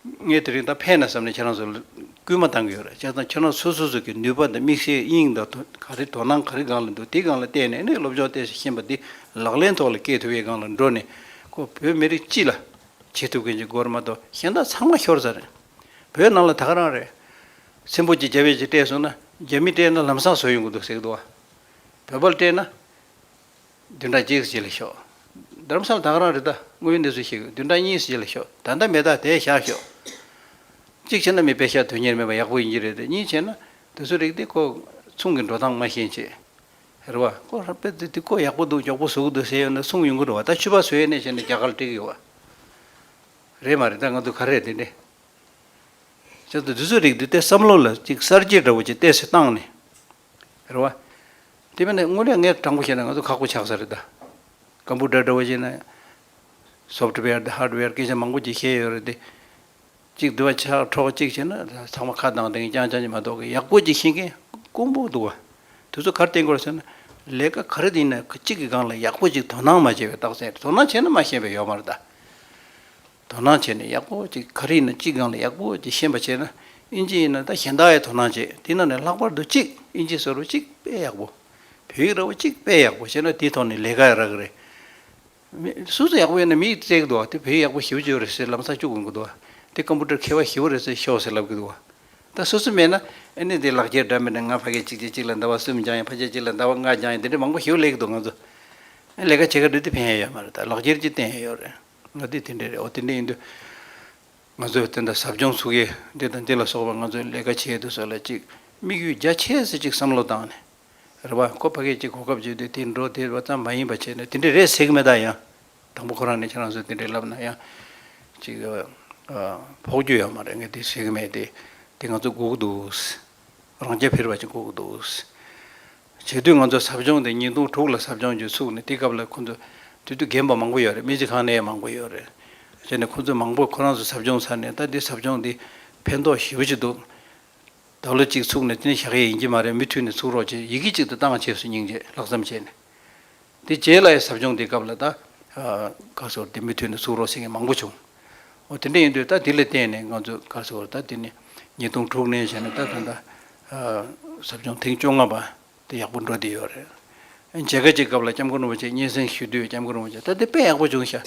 ངས་དེ་རིང་ད་ཕན་ནས་བསམ་ནས་ཁྱེད་རང་ཚོར་སྐུལ་མ་གཏང་གི་ཡོད་རེད་བྱས་ཙང་ཁྱེད་རང་ཚོ་སོ་སོ་གི་ནུས་པ་དང་དམིགས་བསལ་དབྱིངས་དང་ག་རེ་དོ་སྣང་ག་རེ་སྒང་ལ་འདུག་དེ་སྒང་ལ་བལྟས་ནས་ནས་སློབ་སྦྱོང་བལྟས་ཤིག་ཤེས་པ་འདི་ལག་ལེན་ཐོག་ལ་སྐྱེལ་ཐུབ་ཡས་སྒང་ལ་འགྲོ་ནས་ཁོ་བོད་མི་རིགས་སྤྱི་ལ་བྱེད་ཐུབ་མཁན་གྱི་སྒོར་མ་དང་ཞེན་དག་ཚང་མ་ཤོར་ཚར་རེད་བོད་ནང་ལ་ད་ག་རང་རེད་ཚེམ་བུ་གཅིག་རྒྱ་བལ་གཅིག་སྤྲད་སོང་ན་རྒྱ་མི་སྤྲད་ན་ལམ་སང་བཟོ་ཡོང་གི་འདུག་ཟེར་གི་འདུག་བ་བོད་པ་ལ་སྤྲད་ན་བདུན་ཕྲག་གཅིག་བྱས་ལ་ཤོག། དར་མཚམས་དང་རང་རེ་ཟླ་ངོའི་གནས་ཚུལ་ཞིག་བདུན་ཕྲག་གཉིས་བྱས་ལ་ཤོག་ད་ལྟ་མེད་ད་དེ་བཞག་ཤོག། གཅིག་བྱས་ན་མི་དཔེ་ཤ་དོན་གཉེར་མེད་པ་ཡག་པོ་ཡིན་གྱི་རེད་དེ་གཉིས་བྱས་ན་དེ་ཚོའི་རིགས་དེ་ཁོ་མཚུངས་ཀྱི་འགྲོ་སྟངས་མ་ཤེས་ཆེད་རེད་བ། ཁོ་ཧྲ་པེ་དེ་དེ་ཁོ་ཡག་པོ་འདུག་མགྱོགས་པོ་ཟུག་འདུག་ཟེར་ཡོད་ན་མཚུངས་ཡོང་གི་རེད་བ་ད་ཆུ་བ་ཟོས་ཡས་ནས་བྱས་ནས་རྒྱ་གར་བྲེག་གི་ཡོད་བ། རེད་མ་རེད་ད་ང་ཚོ་ག་རེ་དེ་འདྲས་བྱས་ཚོ་དེ་ཚོའི་རིགས་དེ་བསྟས་བསམ་བློ་ལ་གཅིག་གསར་བརྗེ་འདྲ་བོ་ཅིག་བསྟས་སུ་བཏང་ནས་རེད་བ། དེ་མིན་ན་དངོས་གནས་ངས་དྲང་པོ་བཤད་ན་ང་ཚོ་ཁག་པོ་ཆགས་ས་རེད་ད། ཀམ་པུ་ཏར་འདྲ་བོ་ཞིག་ན། Software དང Hardware སྐད་ཆ་མང་པོ་ཅིག་བཤད་ཡོད་རེད་དེ། གཅིག་དུ་བ་ཆགས་འཕྲོག་གཅིག་བྱས་ན་ཚང་མ་ཁ་གདངས་གདངས་རྐྱང་རྐྱང་གཅིག་མ་གཏོགས་ཡག་པོ་ཅིག་ཤེས་མཁན་དཀོན་པོ་འདུག་བ། དེ་ཚོ་གར་བསྟེན་དགོས་རེད་ཟེར་ན། ལས་ཀ་ག་རེ་ཡིན་ན་གཅིག་གི་སྒང་ལ་ཡག་པོ་ཅིག་དོ་སྣང་མ་བྱས་པའི་རྟགས་མཚན་རེད་དོ་སྣང་བྱས་ན་མ་ཤེས་པའི་ཡོད་མ་རེད་ད། དོ་སྣང་བྱས་ནས་ཡག་པོ་གཅིག་ག་རེ་ཡིན་ན་གཅིག་གང་ལ་ཡག་པོ་གཅིག་ཤེས་པ་བྱས་ན་ཨིན་ཇི་ཡིན་ན་ད་གཞན་དག་ཡང་དོ་སྣང་བྱེད་དེ་ན་ནས་ལྷག་པར་དུ་གཅིག་ཨིན་ཇི་ཟེར་བ་གཅིག་དཔེ་ཡག་པོ་བོད་ཡིག་ར་བ་གཅིག་དཔེ་ཡག་པོ་བྱས་ན་དེའི་ཐོག་ནས་ལས་ཀ་ཡང་རག་གི་རེད། མིག་སུ་སུ་ཡག་པོ་ཡོད་ན་མིག་ཡིག་བཙལ་གི་འདུག་བ་དེ་བོད་ཡིག་ཡག་པོ་ཞིབ་བརྗོད་རེད་ཟེར་ལམ་སང་སྐྱོ་དགོས་ཀྱི་འདུག་བ་དེ་ཀམ་པུ་ཏར་མཁས་པ་ཞི་བ་རེད་ཟེར་ཤོག་ཟེར་ལབ་ཀྱི་འདུག་བ་ད་སུ་སུ་མེད་ན་ཨེ་ནི་དེ་ལག་འཁྱེར་འདྲ་མེད་ན་ང་ཕ་སྐད་གཅིག་བྱས་གཅིག་ལ་འདའ་བ་གསུམ་སྦྱངས་ཡང་ཕ་སྐད་གཅིག་ལ་འདའ་བ་ལྔ་སྦྱངས་ཡང་དེ་འདྲའི་མང་པོ་ཞིབ་ལས་ཀྱི་འདུག་ང་ཚོ་ལས་ཀ་བྱེད་ག་འདྲུད་དེ་ཕན་ཡོད་ཡོད་མ་རེད་ད་ལག་འཁྱེར་གཅིག་བསྟན་ཡོད་ཡོད་རེད། ང་འདི་དེ་འདྲའི་རེད་འོ་དེ་འདྲའི་ཡིན་དུས། ང་ཚོས་དེ་འདྲ་ཟབ་སྦྱོང་ཚུགས་ཀྱི་འདི་དང་འདི་ལ་སོགས་པ་ང་ཚོས་ལས་ཀ་བྱེད་དུས་སོགས་ལ་ཅིག་དམིགས་ཡུལ་རྒྱ་ཆེ་སེ་ཅིག་བསམ་བློ་བཏང་ནས། རེ་བ་ཁོ་ཕ་སྐད་ཅིག་གོ་སྐབས་བརྗེས་དུས་དེ་འགྲོ་དེ་འགྲོ་ཙམ་མ་ཡིན་པ་བྱས་ནས་དེ་འདྲའི་རེད་ཟེར་གི་མེད་ད་ཡང། དང་པོ་ཁོ་རང་ནས་ཁྱེད་རང་ཚོས་དེ་འདྲའི་ལབ་ན་ཡང། ཅིག། ཕོག་རྒྱུ་ཡོད་མ་རེད་ངས་དེ་ཟེར་གི་མེད་དེ། དེ་ང་ཚོ་སྒུག་གི་འདུག། རང་རྐྱ་འཕེར་བ་ཅིག་འགུགས་འདུག། བྱེས་དུས་ང་ཚོ་ཟབ་སྦྱོང་དེ་ཉིས་སྟོང་དྲུག་ལ་ཟབ་སྦྱོང་རྒྱུ་ཚུགས་ནས་དེ་སྐབས་ལ་ཁོ་ཚོ་དུས་དུས་རྒན་པ་མང་པོ་ཡོད་རེད་སྨན་སྦྱིན་ཁང་ནས་ཡང་མང་པོ་ཡོད་རེད། བྱས་ནས་ཁོ་ཚོས་མང་པོ་ཁོ་རང་ཚོ་ཟབ་སྦྱོང་ཚར་ནས་ད་དེ་ཟབ་སྦྱོང་འདི་ཕན་ཐོགས་ཞེ་བོ་ཅིག་འདུག། ད་ལོ་གཅིག་ཚུགས་ནས་དེ་ནས་བཞག་ཡས་ཡིན་གྱི་མ་རེད་མུ་མཐུད་ནས་ཚུགས་རོགས་ཅེས་ཡི་གེ་གཅིག་ཏུ་བཏང་བྱས་སུ་སྙིང་རྗེ་ལྷག་བསམ་བྱས་ནས། དེ་རྗེས་ལ་ཡི་ཟབ་སྦྱོང་དེའི་སྐབས་ལ་ད། གར་སོར་དེ་མི་མཐུན་ནས་ཚུགས་རོགས་ཟེར་མཁན་མང་པོ་བྱུང། འོ་དེ་འདྲ་ཡིན་དུས་ད་དེ་ལ་བརྟེན་ནས་ང་ཚོས་གར་སོར་ད་དེ་ནི་ཉིས་སྟོང་དྲུག་ནས་བཞག་ནས་ད་ད་ལྟ། ཟབ་སྦྱོང་ཐེངས་བཅོ་ལྔ་པ་དེ་ཡག་པོ་འགྲོ་བསྡད་ཡོད་རེད། མཇལ་ཁ་གཅིག་སྐབས་ལ་སྐྱབས་མགོན་རིན་པོ་ཆེ་སྙན་སེང་ཞུས་དུས་སྐྱབས་མགོན་རིན་པོ་ཆེས་ད་དེ་དཔེ་ཡག་པོ་བྱུང་ཤག་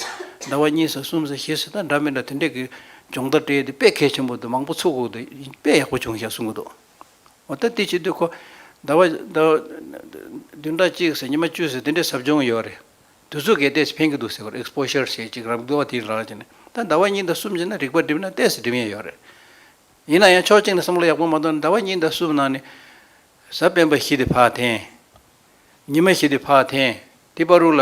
ཟླ་བ་གཉིས་སོ་གསུམ་སོ་བཞི་སོ་ད་འདྲ་མི་འདྲ་དེ་འདྲས་ཀྱི་སྦྱོང་བརྡར་སྤྲད་དེ་དཔེ་གལ་ཆེན་པོ་འདུག་མང་པོ་ཚུགས་འགོ་འདུག་དཔེ་ཡག་པོ་བྱུང་ཤག་གསུང་གི་འདུག། འོ་ད་དེ་བྱེད་དུས་ཁོ། ཟླ་བ། བདུན་ཕྲག་གཅིག་ཟེར་ཉི་མ་བཅུ་ཟེར་དེ་འདྲའི་ཟབ་སྦྱོང་ཡོད་རེད། དུས་ཚོད་གས་གཏད་ཞིག་ཕན་གྱི་འདུག་ཟེར་བར Exposure ཞེས་གཅིག་རམ་དགུ་བ་དེའི་རང་བྱས་ནས་ད་ཟླ་བ་གཉིས་ཟླ་གསུམ་བྱས་ན་རིག་པ་སྒྲིབ་ན་གཏད་སོ་སྒྲིབ་ཡས་ཡོད་རེད། ཡིན་ན་ཡང་ཕྱོགས་གཅིག་ནས་བསམ་བློ་ཡག་པོ་མ་གཏོང་ན་ཟླ་བ་གཉིས་ཟླ་གསུམ་ནང་ནས། གཟའ་སྤེན་པ་བཞི་དེ་ཕག་ཐེངས། ཉི་མ་བཞི་དེ་ཕག་ཐེངས་དེ་པར་རུ་ལ།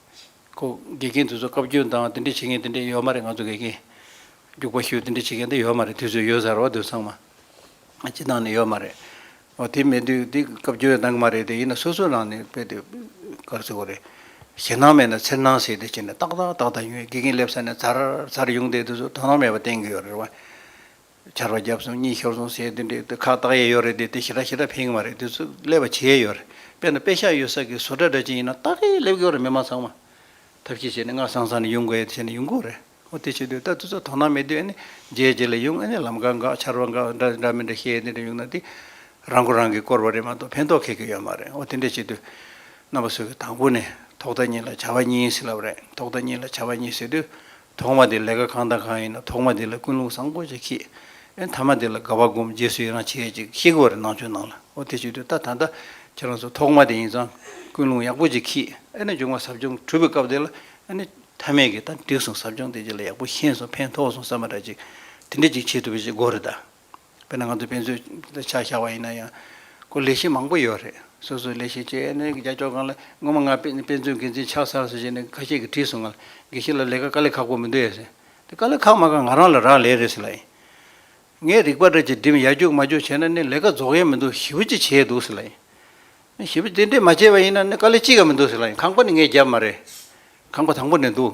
ཁོ། དགེ་རྒན་དེ་ཚོ་བཀའ་བཀྱོན་དང་དེ་འདྲས་བྱེད་མཁན་དེ་འདྲས་ཡོད་མ་རེད་ང་ཚོ་དགེ་རྒན། རྒྱུག་པ་ཞུས་དེ་འདྲས་བྱེད་མཁན་དེ་ཡོད་མ་རེད་དུས་ཚོད་ཡོད་ས་རེད་བ་དུས་ཚང་མ། སྤྱི་བཏང་ནས་ཡོད་མ་རེད། འོ་དེ་མེད་དུས་དེ་བཀའ་བཀྱོན་གནང་གི་མ་རེད་དེ་ཡིན་ན་སོ་སོའི་ནང་ནས་དཔེ་དེབ་བཀར་བཟོས་གོ་རེད། ཞེད་སྣང་མེད་ན་འཚེར་སྣང་ཟེར་དེ་བྱས་ནས་ཏག་ཏག་ཏག་ཏག་ཉོས་དགེ་རྒན་སླེབས་ས་ནས་ཚར་ཚར་ཡོང་དེ་དུས་ཚོད་དོ་སྣང་མེད་པ་བསྟན་གི་ཡོད་རེད་བ། ཆར་བ་བརྒྱབ་སོང་གཉིད་ཤོར་སོང་ཟེར་དེ་འདྲའི་ཁ་བཏགས་ཡས་ཡོད་རེད་དེ་དེ་ཞེ་དྲག་ཞེ་དྲག་ཕེང་བ་རེད་དེ་ཚོས་ཀླད་པ་བྱེད་ཡས་ཡོད་རེད་དཔེར་ན་དཔེ་ཤག་ཡོད་ས་ཀྱི་བཟོ་གྲྭ་འདྲ་ཅན་ཡིན་ན་སྟག་གིས་ཀླད་བསྐོལ་རེད་མི་མང་ཚང་མ་ཐབས་ཤེས་བྱས་ནས་སྔགས་སང་སང་ནས་ཡོང་དགོས་ཡས་བྱས་ནས་ཡོང་དགོས་རེད་ཨོ་དེ་བྱེད་དུས་ད་དེ་ཚོ་དོ་སྣང་མེད་དུས་ཨེ་ནས་རྗེས་རྗེས་ལ་ཡོང་ཨེ་ནས་ལམ་ཀ་འགག་ཆར་བ་འགག་འདྲ་འདྲ་འདྲ་མི་འདྲ་ཤེས་ཡས་དེ་འདྲ་ཡོང་ན་དེ་རང་མགོ་རང་གིས་བསྐོར་བ་རེད་མ་གཏོགས་ཕན་ཐོགས་ཁེག་གི་ཡོད་མ་རེད་ཨོ་དེ་འདྲ་བྱེད་དུས་རྣམ་པ་ཚོས་ཀྱི་དང་པོ་ནས་ཐོག་མཐའ་གཉིས་ལ་བྱ་བ་གཉིས་ཟེར་ལབ་རེད་ཐོག་མཐའ་གཉིས་ལ་བྱ་བ་གཉིས་ཟེར་དུས་ཐོག་མ་དེ་ལས་ཀ་གང་དང་གང་ཡིན་ན་ཐོག་མ་དེ་ལ་ཀུན་སློང་བཟང་པོ་ཅིག་ཤེས། ཨེ་ཐ་མ་དེ་ལ་དགའ་བ་སྒོམ་རྗེས་སུ་ཡི་རང་བྱེད་ཅིག་ཤེས་དགོས་རེད་ནང་ཆོས་ནང་ལ་ཨོ་དེ་ཞིག་དུས་ད་ད་ལྟ་ཁྱེད་རང་ཚོ་ཐོག་མ་དེ་ཡིན་ཙང་ཀུན་སློང་ཡག་པོ་ཅིག་ཁྱིས་ཨེ་ན་འབྱུང་བ་ཟབ་སྦྱོང་གྲུབ་པའི་སྐབས་དེ་ལ་ཨེ་ན་ཐ་མལ་གྱི་ད་འགྲིག་སོང་ཟབ་སྦྱོང་དེ་རྗེས་ལ་ཡག་པོ་ཤེས་སོང་ཕན་ཐོགས་སོང་བསམ་པ་འདྲ་ཅིག་དེ་འདྲ་ཅིག་བྱེད་ཐུབ་པ་ཅིག་དགོས་རེད་ད། དཔེར་ན་ང་ཚོ་དཔེ་མཛོད་ཆ་བཞག་པ་ཡིན་ན་ཡང། ཁོ་ལས་བྱེད་མང་པོ་ཡོད་རེད། སོ་སོའི་ལས་བྱེད་ཅེས་ནས་རྒྱ་ཕྱོགས་གང་ལ་སྔོན་མ་ང་དཔེ་མཛོད་འགན་འཛིན་ཆགས་ཚར་སོང་ཞེས་ནས་ཁ་ཤས་ཀྱིས་དྲིས་སོང་ང་ལ་དགེ་བཤེས་ལ་ལས་ཀ་དཀའ་ལས་ཁག་པོ་མི་འདུག་ཨེ་ཟེར། དེ་དཀའ་ལས་ཁག་མ་ཁག་ང་རང་ལ་རག་ལས་རེད་ཟེར་ལ། ངས་རིག་པ་འདྲ་གཅིག་འགྲིམ་ཡར་རྒྱུགས་མར་རྒྱུགས་བྱས་ན་ནི་ལས་ཀ་རྫོགས་ཡས་མི་འདུག་ཞི་བུ་ཅིག་བྱས་འདུག་ཟེར་ལ། ཞི་བུ་དེ་འདྲས་མ་བྱས་པ་ཡིན་ན་ནི་དཀའ་ལས་ཅི་ཡང་མི་འདུག་ཟེར་ལ་ཁང་པ་ནི་ངས་བརྒྱབ་མ་རེད། ཁང་པ་དང་པོ་ནས་འདུག་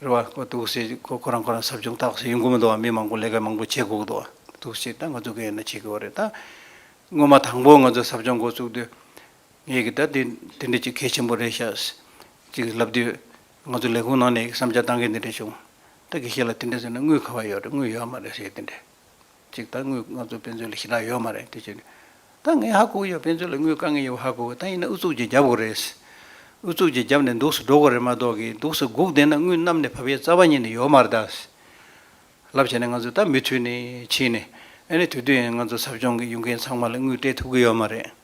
རེ་བ་ཁོ་ཐུགས་བསུ་ཡིན་ཁོ་ཁོ་རང་ཁོ་རང་ཟབ་སྦྱོང་ལྟ་བསུ་ཡིན་གོ་མི་འདུག་བ་མི་མང་པོ་ལས་ཀ་མང་པོ་བྱེད་དགོས་ཀྱི་འདུག་བ་ཐུགས་བསུ་ད་ང་ཚོ་གི་ཡིན་ན་བྱེད་དགོས་བ་རེད་ད། སྔོན་མ་དང་པོ་ང་ཚོ་ཟབ་སྦྱོང་འགོ་བཙུགས་དུས། ངེད་ཀྱི་ད་དེ་དེ་འདྲའི་གཅིག་གལ་ཆེན་པོ་རེད་ཤག་ཅིག་ལབ་དུས། ང་ཚོ་ལས་ཁུངས་ནང་ནས་བསམ་འཆར་གཏང་མཁན་དེ་འདྲ་བྱུང། ད་གི་ཤེད་ལ་དེ་འདྲ་ཟེར་ན་དངུལ་ག་བ་ཡོད་རེད་དངུལ་ཡོད་མ་རེད་ཟེར་དེ་འདྲ། ཅིག་ད་དངུལ་ང་ཚོ་དཔེ་མཛོད་ལ་ཞིང་ཁྲ་ཡོད་མ་རེད་དེ་བྱས་ད་ངས་ཧ་གོ་གི་ཡོད་དཔེ་མཛོད་ལ་དངུལ་དཀའ་ངལ་ཡོད་པ་ཧ་གོ་གི་ད་ཡིན་ན་ཨུ་ཚུགས་ཀྱིས་རྒྱབ་གོ་རེད་ཨུ་ཚུགས་ཀྱིས་རྒྱབ་ནས་འདུག་སུ་འགྲོ་གོ་རེད་མ་གཏོགས་ཀི་འདུག་སུ་སྒུག་བསྡད་ན་དངུལ་གནམ་ནས་བབ་ཡས་རྩ་བ་ཉིད་ནས་ཡོད་མ་རེད་ད། ལབ་བྱས་ནས་ང་ཚོས་ད་མུ་མཐུད་ནས་ཕྱིན་ནས་ཨ་ནི་དུས་དུས་ཡིན་ན་ང་ཚོ་ཟབ་སྦྱོང་གི་ཡུལ་མཁན་ཚང་མ་ལ་དངུལ་སྤྲད་ཐུབ་ཀི་ཡོད་མ་རེད།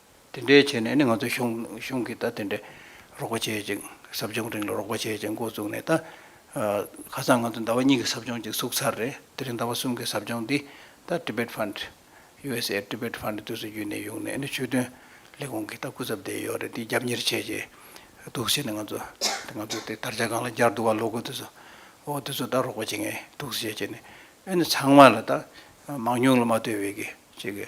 དེ་འདྲའི་བྱས་ནས་ནི་ང་ཚོའི་གཞུང་གིས་ད་དེ་འདྲའི་རོགས་པ་བྱེད་ཅིང་ཟབ་སྦྱོང་རིང་ལ་རོགས་པ་བྱེད་ཅེས་མགོ་བཙུགས་ནས་ད་ཁ་སང་ང་ཚོས་ཟླ་བ་གཉིས་ཀྱི་ཟབ་སྦྱོང་ཅིག་བཙུགས་ཚར་རེད་དེ་རིང་ཟླ་བ་གསུམ་གྱི་ཟབ་སྦྱོང་འདི་ད Tibet Fund། USA Tibet Fund དུས་སུ་བརྒྱུད་ནས་ཡོང་ནས་ནི་ཆོས་དོན་ལས་ཁུངས་ཀྱིས་ད་སྐུ་ཚབ་བསྡད་ཡོད་རེད་འདི་རྒྱབ་གཉེར་བྱེད་ཅེས་དུག་སེལ་ནི་ང་ཚོ་དེ་ང་ཚོ་དེ་དར་ཆ་སྒང་ལ་འགྱར་འདུག་བ་ལོ་དགུ་དུས་སུ་འོ་དུས་སུ་ད་རོགས་པ་བྱེད་ངེས་དུག་སེལ་བྱེད་ཅེས་ནི་ཨེ་ནི་ཚང་མ་ལ་ད་མང་ཉུང་ལ་མ་ལྟོས་བའི་གི་ཅིག་གི་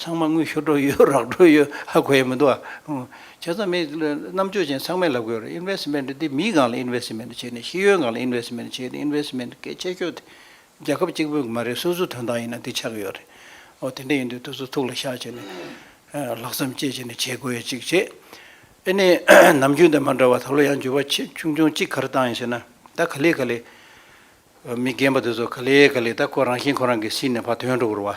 ཚང་མ་དངུལ་ཤོར་འགྲོ་ཡོད་རག་འགྲོ་ཡོད་ཧ་གོ་ཡ་མི་འདུག་ཨ། བྱས་ཙང་མི་རྣམ་དཔྱོད་ཅན་ཚང་མས་ལབ་དགོས་རེད Investment འདི་མིའི་སྒང་ལ Investment བྱས་ནས་ཤེས་ཡོན་སྒང་ལ Investment བྱས་ཏེ Investment གལ་ཆེ་ཤོས་དེ་རྒྱལ་ཁབ་གཅིག་པོའི་མ་རེད་སོ་སོའི་དོན་དག་ཡིན་ན་དེ་ཆགས་ཀྱི་ཡོད་རེད་ཨོ་དེ་འདྲ་ཡིན་དུས་དུས་ཚོད་ཐུགས་ལ་ཤ་བྱས་ནས་ལྷག་བསམ་བསྐྱེད་བྱས་ནས་བྱེད་དགོས་ཡ་གཅིག་བྱས་ཨེ་ནས་ནམ་རྒྱུན་དང་མ་འདྲ་བར་ད་ལོ་ཡང་འགྱུར་བ་ཆེ་ཆུང་ཆུང་གཅིག་གར་བཏང་ཡིན་ཟེར་ན་ད་ག་ལེ་ག་ལེ་མི་རྒན་པ་དེ་ཚོ་ག་ལེ་ག་ལེ་ད་ཁོ་རང་བཞིན་ཁོ་རང་གིས་སྲིད་ནས་ཕར་དོན་འགྲོ་དགོས་རུ་བ།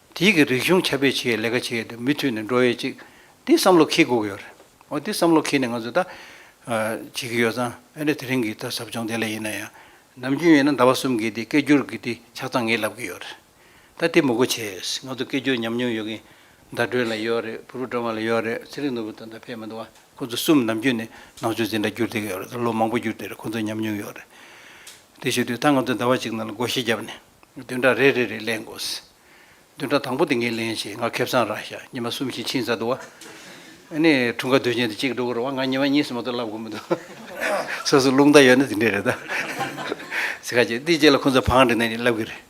དེའི་གི་རིག་གཞུང་ཁྱབ་སྤེལ་བྱེད་ཡའི་ལས་ཀ་བྱེད་ཡས་དེ་མུས་མཐུད་ནས་འགྲོ་ཡས་ཅིག་དེ་བསམ་བློ་ཁེལ་དགོས་གི་ཡོད་རེད་འོ་དེ་བསམ་བློ་ཁེལ་ནས་ང་ཚོ་ད་བྱེད་གི་ཡོད་ཙང་ཨ་རེ་དེ་རིང་གི་ད་ཟབ་སྦྱོང་དེ་ལས་ཡིན་ན་ཡང་ནམ་རྒྱུན་ཡིན་ན་ཟླ་བ་གསུམ་གི་དེ་སྐད་སྒྱུར་གི་དེ་ཆ་ཚང་ངས་ལབ་གི་ཡོད་རེད་ད་དེ་མུ་གུ་བྱས་ཡས་ང་ཚོ་སྐད་སྒྱུར་ཉམས་མྱོང་ཡོད་གི་ཟླ་སྒྲོན་ལ་ཡོད་རེད་བུ་རུ་སྒྲོན་མ་ལ་ཡོད་རེད་ཚེ་རིང་ནོར་བུ་དང་ད་ཕེབས་མི་འདུག་བ་ཁོ་ཚོ་གསུམ་ནམ་རྒྱུན་ནས་ནང་ཆོས་འཛིན་གྲྭ་སྒྱུར་བསྡད་གི་ཡོད་རེད་ད་ལོ་མང་པོ་སྒྱུར་བསྡད་རེད་ཁོ་ཚོ་ཉམས་མྱོང་ཡོད་རེད་དེ་ཞུས་དུས་ད་ང་ཚོ་ཟླ་བ་གཅིག་ནང་ལ་སྒོ་ཤེས་བརྒྱབ་ནས། བདུན་ཕྲག་རེ་རེ་རེ་ལེན་དགོས། བདུན་ཕྲག་དང་པོ་དེ་ངས་ལེན་བྱས་ང་ཁེབས་ཚང་རག་ཤག་ཉི་མ་གསུམ་བཞིན་ཕྱིན་ཚར་འདུག་ཨ། ནས་འཁྲུངས་སྐར་དུས་ཆེན་དུ་གཅིག་འགྲོ་གི་རེད་བ་ང་ཉི་མ་གཉིས་སུ་མ་གཏོགས་ལབ་དགོས་མི་འདུག། སོ་སོ་རླུང་རྟ་ཡོད་ན་དེ་འདྲས་རེད་ད། ཚིག་ཁ་ཅིག་འདི་བཅས་ལ་ཁོ་ཚོས་བང་བསྒྲིགས་ནས་ལབ་གི་རེད།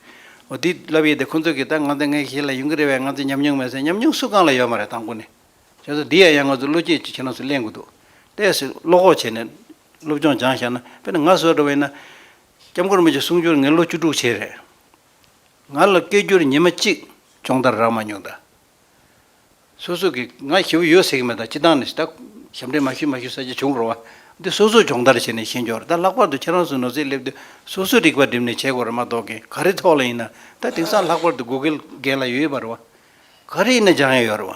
འོ་འདི་ལབ་ཡས་དེ་ཁོ་ཚོ་གིས་ད་ང་ཚོའི་ངའི་གཞི་ལ་ཡོང་གི་རེད་བས་ང་ཚོས་ཉམས་མྱོང་མེད་ཟེར་ཉམས་མྱོང་སུ་གང་ལ་ཡོད་མ་རེད་དང་པོ་ནས། བྱས་ཙང་འདི་ཡ་ཡང་ང་ཚོ་བློ་སྐྱེད་ཅིག་བྱེད་ན་སུ་གླེང་གི་འདུག་ལྟས་སུ་བློ་ཁོག་བྱས་ནས་སློབ་སྦྱོང་སྦྱང་ཤག་ན་དཔེར་ན་ང་བཟོ་འགྲོ་བ་ཡིན་ན། སྐྱབས་མགོན་རྨེ་ཆུ་གསུང་སྦྱོར་ངས་ལོ་བཅུ་དྲུག་བྱས་རེད། ང་ལ་སྐད་སྒྱུར་ཉི་མ་གཅིག་སྦྱོང་བརྡར་རག་མ་མྱོང་ད། སོ་སོ་གིས་ང་ཞེ་བོ་ཡོད་ཟེར་གི་མེད་ད་སྤྱི་བཏང་ནས་ད་ཞབས་འདྲེན་མ་ཞུས་མ་ཞུས་ས་ཆ་བྱུང་རོགས་ཨ། འདི་སོ་སོ་སྦྱོང་བརྡར་བྱས་ནས་ཤེས་འགྱོར་ད་ལྷག་པར་དུ་ཁྱེད་རང་སུ་ནོར་སྲིད་སླེབས་དུས་སོ་སོས་རིག་པ་བསྒྲིམས་ནས་བྱས་གོ་རེ་མ་གཏོགས་གི་ག་རེ་ཐོག་ལ་ཡིན་ན་ད་དེང་སང་ལྷག་པར་དུ Google རྒན་ལ་ཡོད་ཡོད་པ་རེད་བ། ག་རེ་ཡིན་ན་སྦྱང་ཡས་ཡོད་རེད་བ།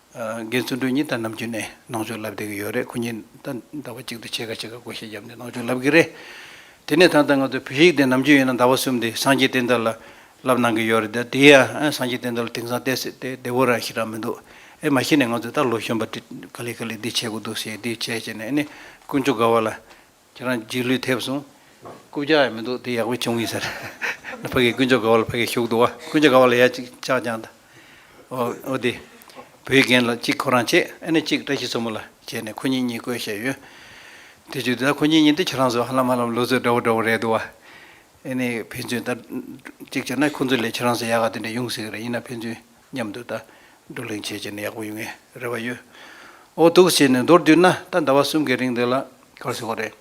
རྒན་བརྩོན་འགྲུས་གཉིས་ད་ནམ་རྒྱུན་ནས་ནང་ཆོས་ལབ་བསྡད་ཀྱི་ཡོད་རེད་ཁོ་གཉིས་ད་ཟླ་བ་གཅིག་ཏུ་ཕྱེད་ཀ་ཕྱེད་ཀ་བགོ་བཤའ་བརྒྱབ་ནས་ནང་ཆོས་ལབ་གི་རེད། དེ་ནས་ད་ལྟ་ང་ཚོ་བོད་ཡིག་དེ་ནམ་རྒྱུན་ཡིན་ན་ཟླ་བ་གསུམ་དེ་སངས་རྒྱས་བསྟན་དར་ལ་ལབ་གནང་གི་ཡོད་རེད་ད་དེ་ཡང་ཨ་སངས་རྒྱས་བསྟན་དར་ལ་དེང་སང་བལྟས་ཟེར་བལྟས་བོད་རང་ཞིག་རང་མི་འདུག་ཨེ་མ་གཞི་ནས་ང་ཚོས་ད་ལོ་གཞོན་པ་དེ་ག་ལེ་ག་ལེ་འདི་བྱེད་དགོས་འདུག་ཟེར་འདི་བྱས་བྱས་ནས་ཨེ་ནི་དཀོན་མཆོག་དགའ་བ་ལ། ཁྱེད་རང་འཇིགས་ལུས་ཐེབས་སོང། རྐུབ་བཀྱག་ཡང་མི་འདུག་དེ་ཡག་པོ་བྱུང་གི་ཟེར། ཕ་གིས་དཀོན་མཆོག་དགའ་བ་ལ་ཕ་གིས་ཞུགས་འདུག་བ། དཀོན་མཆོག་དགའ་བ་ལ་ཡ་ཅིག་ཅག་ཅང་ད། འོ། འོ་དེ། བུའི་རྒན་ལ་གཅིག་ཁོ་རང་བྱེད་ཨེ་ནི་གཅིག་བཀྲ་ཤིས་འཚོ་མོ་ལ་བྱེད་ནས་ཁོ་གཉིས་གཉིས་བསྐོས་བྱས་ཡོད། དེ་བྱུང་དེ་ད་ཁོ་གཉིས་གཉིས་འདི་ཁྱེད་རང་ཚོ་ཧ་ལམ་ཧ་ལམ་ལོ་ཚོད་འདྲ་བོ་འདྲ་བོ་རེད་འདུག་བ། ཨེ་ནི་ཕན་ཚུན་ད། གཅིག་བྱས་ན་ཁོང་ཚོ་ལས་ཁྱེད་རང་ཚོ་ཡག་ག་དེ་འདྲ་ཡོང་སྲིད་གི་རེད་ཡིན་ན་ཕན་ཚུན་སྙམ་དུ་ད་སྡུག་ལེན་བྱེད་ཅེས་ནི་ཡག་པོ་ཡོད་ངེས་རེད་བ་ཡོད། འོ་སྡུག་ཅེས་ནི་མདོར་བསྡུས་ན་ད་ཟླ་བ་གསུམ་གྱི་རིང་འདི་ལ་གར་སོང་བ་རེད།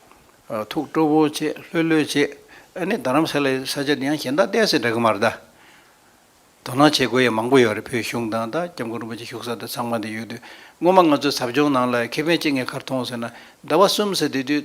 ཐུགས་སྤྲོ་བོ་བྱེད་ལྷོད་ལྷོད་བྱེད་ཨ་ནི་རྡ་རམ་ས་ལའི་ས་ཆ་འདི་ཡང་གཞན་དག་བལྟས་ཚེ་འདྲ་གི་མ་རེད་ད། དོ་སྣང་བྱེད་དགོས་ཡ་མང་པོ་ཡོད་རེད་བོད་གཞུང་དང་ད་སྐྱབས་མགོན་རིན་པོ་ཆེ་བཞུགས་ས་དེ་ཚང་མ་འདི་ཡོད་དུས་སྔོན་མ་ང་ཚོའི་ཟབ་སྦྱོང་ནང་ལ་ཁེ་ཕན་ཅི་ངས་གར་མཐོང་ཟེར་ན་ཟླ་བ་གསུམ་ཟེར་དེ་དུས་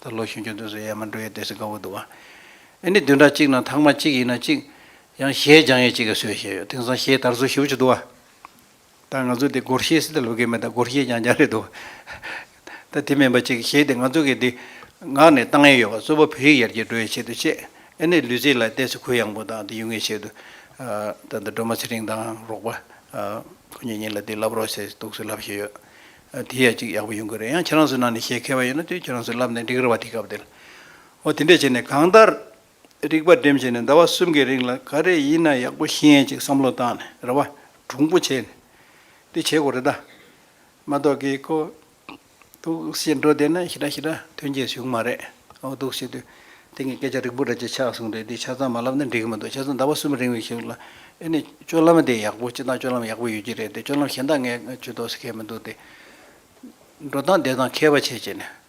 ད་ལོ་ཤིང་ཆུ་འདོན་ས་ཡས་མ་འགྲོ་ཡས་བསྡད་ས་དགའ་བོ་འདུག་ཨ། ཨེ་ནི་བདུན་ཕྲག་གཅིག་ནང་ཐང་མ་གཅིག་ཡིན་ན་གཅིག། ཡང་གཞས་སྦྱང་ཡས་གཅིག་ག་སོས་བཞེས་ཡོད་དེང་སང་གཞས་དར་སོ་ཞིབ་ཆུ་འདུག་ཨ། ད་ང་ཚོ་འདི་སྒོར་གཞས་སི་ད་ལུ་གས་མེད་ད་སྒོར་གཞས་སྦྱང་སྦྱང་རེད་འདུག་ཨ། ད་དེ་མིན་པ་གཅིག་གཞས་དེ་ང་ཚོ་གས་འདི། ངག་ནས་བཏང་ཡས་ཡོད་པ་གཙོ་བོ་བོད་ཡིག་ཡར་རྒྱས་འགྲོ་ཡས་ཆེད་དུ་བཤད་ཨེ་ནི་ལུས་རྩིས་ལ་བལྟས་ས་གུ་ཡངས་པོ་དང་འདི་ཡུལ་ངེས་ཆེད་དུ། ད་འདི་སྒྲོལ་མ་ཚེ་རིང་དང་རོགས་པ། ཁོ་གཉིས་གཉིས་ལ་འདི་ལབ་རོགས་ཞེས་གཏུགས་སུ་ལབ་བཞེས་ཡོད། དེ་ཡ་གཅིག་ཡག་པོ་ཡོང་གི་རེད་ཡང་ཁྱེད་རང་ཚོའི་ནང་ནས་བཤད་མཁས་པ་ཡོད་ན་དུས་ཁྱེད་རང་ཚོས་ལབ་ནས་འགྲིག་ར་བ་དེ་སྐབས་དེར་འོ་དེ་འདྲས་བྱས་ནས་གང་ལྟར་རིག་པ་འགྲེམས་བྱས་ནས་ཟླ་བ་གསུམ་གྱི་རིང་ལ་ག་རེ་ཡིན་ན་ཡག་པོ་ཤེས་ཡན་ཅིག་བསམ་བློ་བཏང་ནས་ར་བ་གྲུང་པོ་བྱས་ནས་དེ་བྱེད་དགོས་རེད་ད་མ་གཏོགས་ཀྱི་ཁོ་གདུགས་བྱེད་འགྲོ་བསྡད་ན་ཞི་དྲག་ཞི་དྲག་ཐོན་གྱི་བྱུང་མ་རེད་འོ་གདུགས་བྱེད་དུས། དེ་གཉིས་སྐད་ཆ་རིགས་པོ་རེད་ཅེས་ཕྱག་གསུངས་རེད་འདི་ཆ་ཚང་མ་ལབ་ན་འགྲིག་གི་མི་འདུག་ཆ་ཚང་ཟླ་བ་གསུམ་རིང་ལ་ཞུགས་ལ། ཨེ་ནས་སྤྱོད་ལམ་དེ་ཡག་པོ་སྤྱི་སྟངས་སྤྱོད་ལམ་ཡག་པོ་ཡོད་ཀྱི་རེད་དེ་སྤྱོད་ལམ་གཞན་དག་ངས་ཇུས་གཏོགས་ཟེར་མཁན་མི་འདུག་སྟེ། འགྲོ་སྟངས་བསྡད་སྟངས་མཁས་པ་བྱས་བྱས་ནས།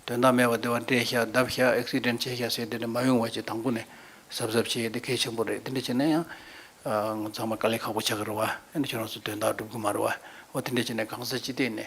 དོན་དག་མེད་པ་དེ་བ་འདྲེད་བཞག་བརྡབ་བཞག Accident བྱས་བཞག་ཟེར་དེ་འདྲ་མ་ཡོང་བ་ཅེས་དང་པོ་ནས་གཟབ་གཟབ་བྱས་དེ་གལ་ཆེན་པོ་རེད་དེ་འདྲ་བྱས་ན་ཡང། ཚང་མ་དཀའ་ལས་ཁག་པོ་བྱ་གི་རེད་བ། ཨེ་ནས་ཁྱོད་རང་ཚོ་དོན་དག་སྒྲུབ་གི་མ་རེད་བ། འོ་དེ་འདྲ་བྱས་ནས་གང་ཟག་སྤྱི་སྟེགས་ནས།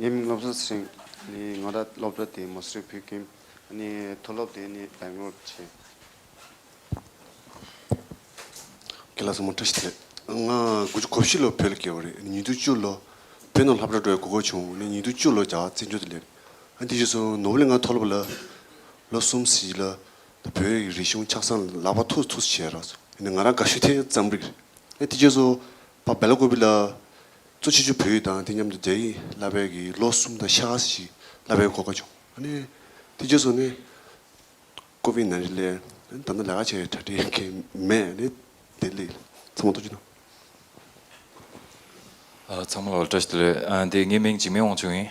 ཡིན། སློབ་གསོ་ཚན་ནི་ང་ར་སློབ་གྲྭ་དེའི་མོ་སི་བྷི་ཀིམ་ནི་མཐོ་སློབ་དེ་ནི་བེང་ལོར་བྱས། ཁྱེད་ལ་སོ་མོ་བཀྲ་ཤིས་བདེ་ལེགས། ང་དགུ་བཅུ་གོ་བཞི་ལོ་བོད་ལ་བསྐྱལ་བ་རེད། ཉིན་དུ་བཅུ་ལོ་བོད་ནང་ལྷ་བྲག་སྒྲོལ་གོ་གོ་བྱུང་ནས་ཉིན་དུ་བཅུ་ལོ་རྒྱ་གར་བཙན་བྱོལ་དུ་སླེབས། དེ་རྗེས་སུ་ནོར་བུ་ལས་ང་མཐོ་སློབ་ལ་ལོ་གསུམ་བསྲིས་ལ་བོད་ཡིག་རིག་གཞུང་ཕྱག་ཚང་ལག་པ་ཐུག་ཐུག་བྱས། ང་རང་དགའ་ཤོས་དེ་རྩམ་རིག་རེད། དེ་རྗེས་སུ་པ་བེ་ལ་ཀོ་བི་ལ། གཙོ་ཆེ་ཆུ་བོ་ཡིག་དང་དེ་མཉམ་དུ་རྒྱ་ཡིག་བསླབ་པའི་གི་ལོ་གསུམ་དང་ཤ་ཁ་སི་ཞིག་བསླབ་པའི་གོ་སྐབས་བྱུང། ནས། དེ་རྗེས་སུ་ནས། ཀོ་བི་ནན་རི་ལས། ད་ནི་ལས་ཀ་བྱེད་གྲ་སྒྲིག་གི་མེད། ནས། དེ་ལས། ཚང་མ་ཐུགས་རྗེ་གནང། ཚང་མ་ལ་བཀྲ་ཤིས་བདེ་ལེགས། དེ་ངའི་མིང་འཇིགས་མེད་དབང་ཕྱུག་ཡིན།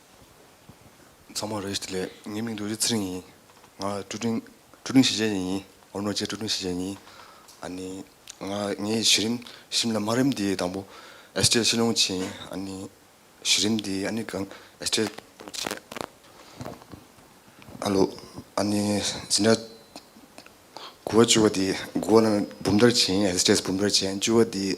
ཚང་མ་རེད་ལས། ངའི་མིང་དུ་རི་ཚེ་རིང་ཡིན། ང་ཀྲུའུ་ཀྲིན། ཀྲུའུ་ཀྲིན་ཞི་ཅན་ཡིན། ཨོ་ནོ་ཅེ་ཀྲུའུ་ཀྲིན་ཞི་ཅན་ཡིན། ཨ་ནི། ང་ངའི་གཞི་རིམ། གཞི་རིམ་ལ་དམའ་རིམ་དེའི་དང་པོ། ཨེས་ཀྲེ་ཤིན་ལུང་ཆིན་ཡིན། ཨ་ནི། གཞི་རིམ་དེའི་ཨ་ནི་གང། ཨེས་ཀྲེ། ཨ་ལོ། ཨ་ནི། ཟིན་ཏྲ། དགུ་བ་བཅུ་བ་དེའི། དགུ་བ་ནི་འབུམ་ཐར་ཆེན་ཡིན། ཨེས་ཀྲེ་ས་འབུམ་ཐར་ཆེན། བཅུ་བ་དེའི།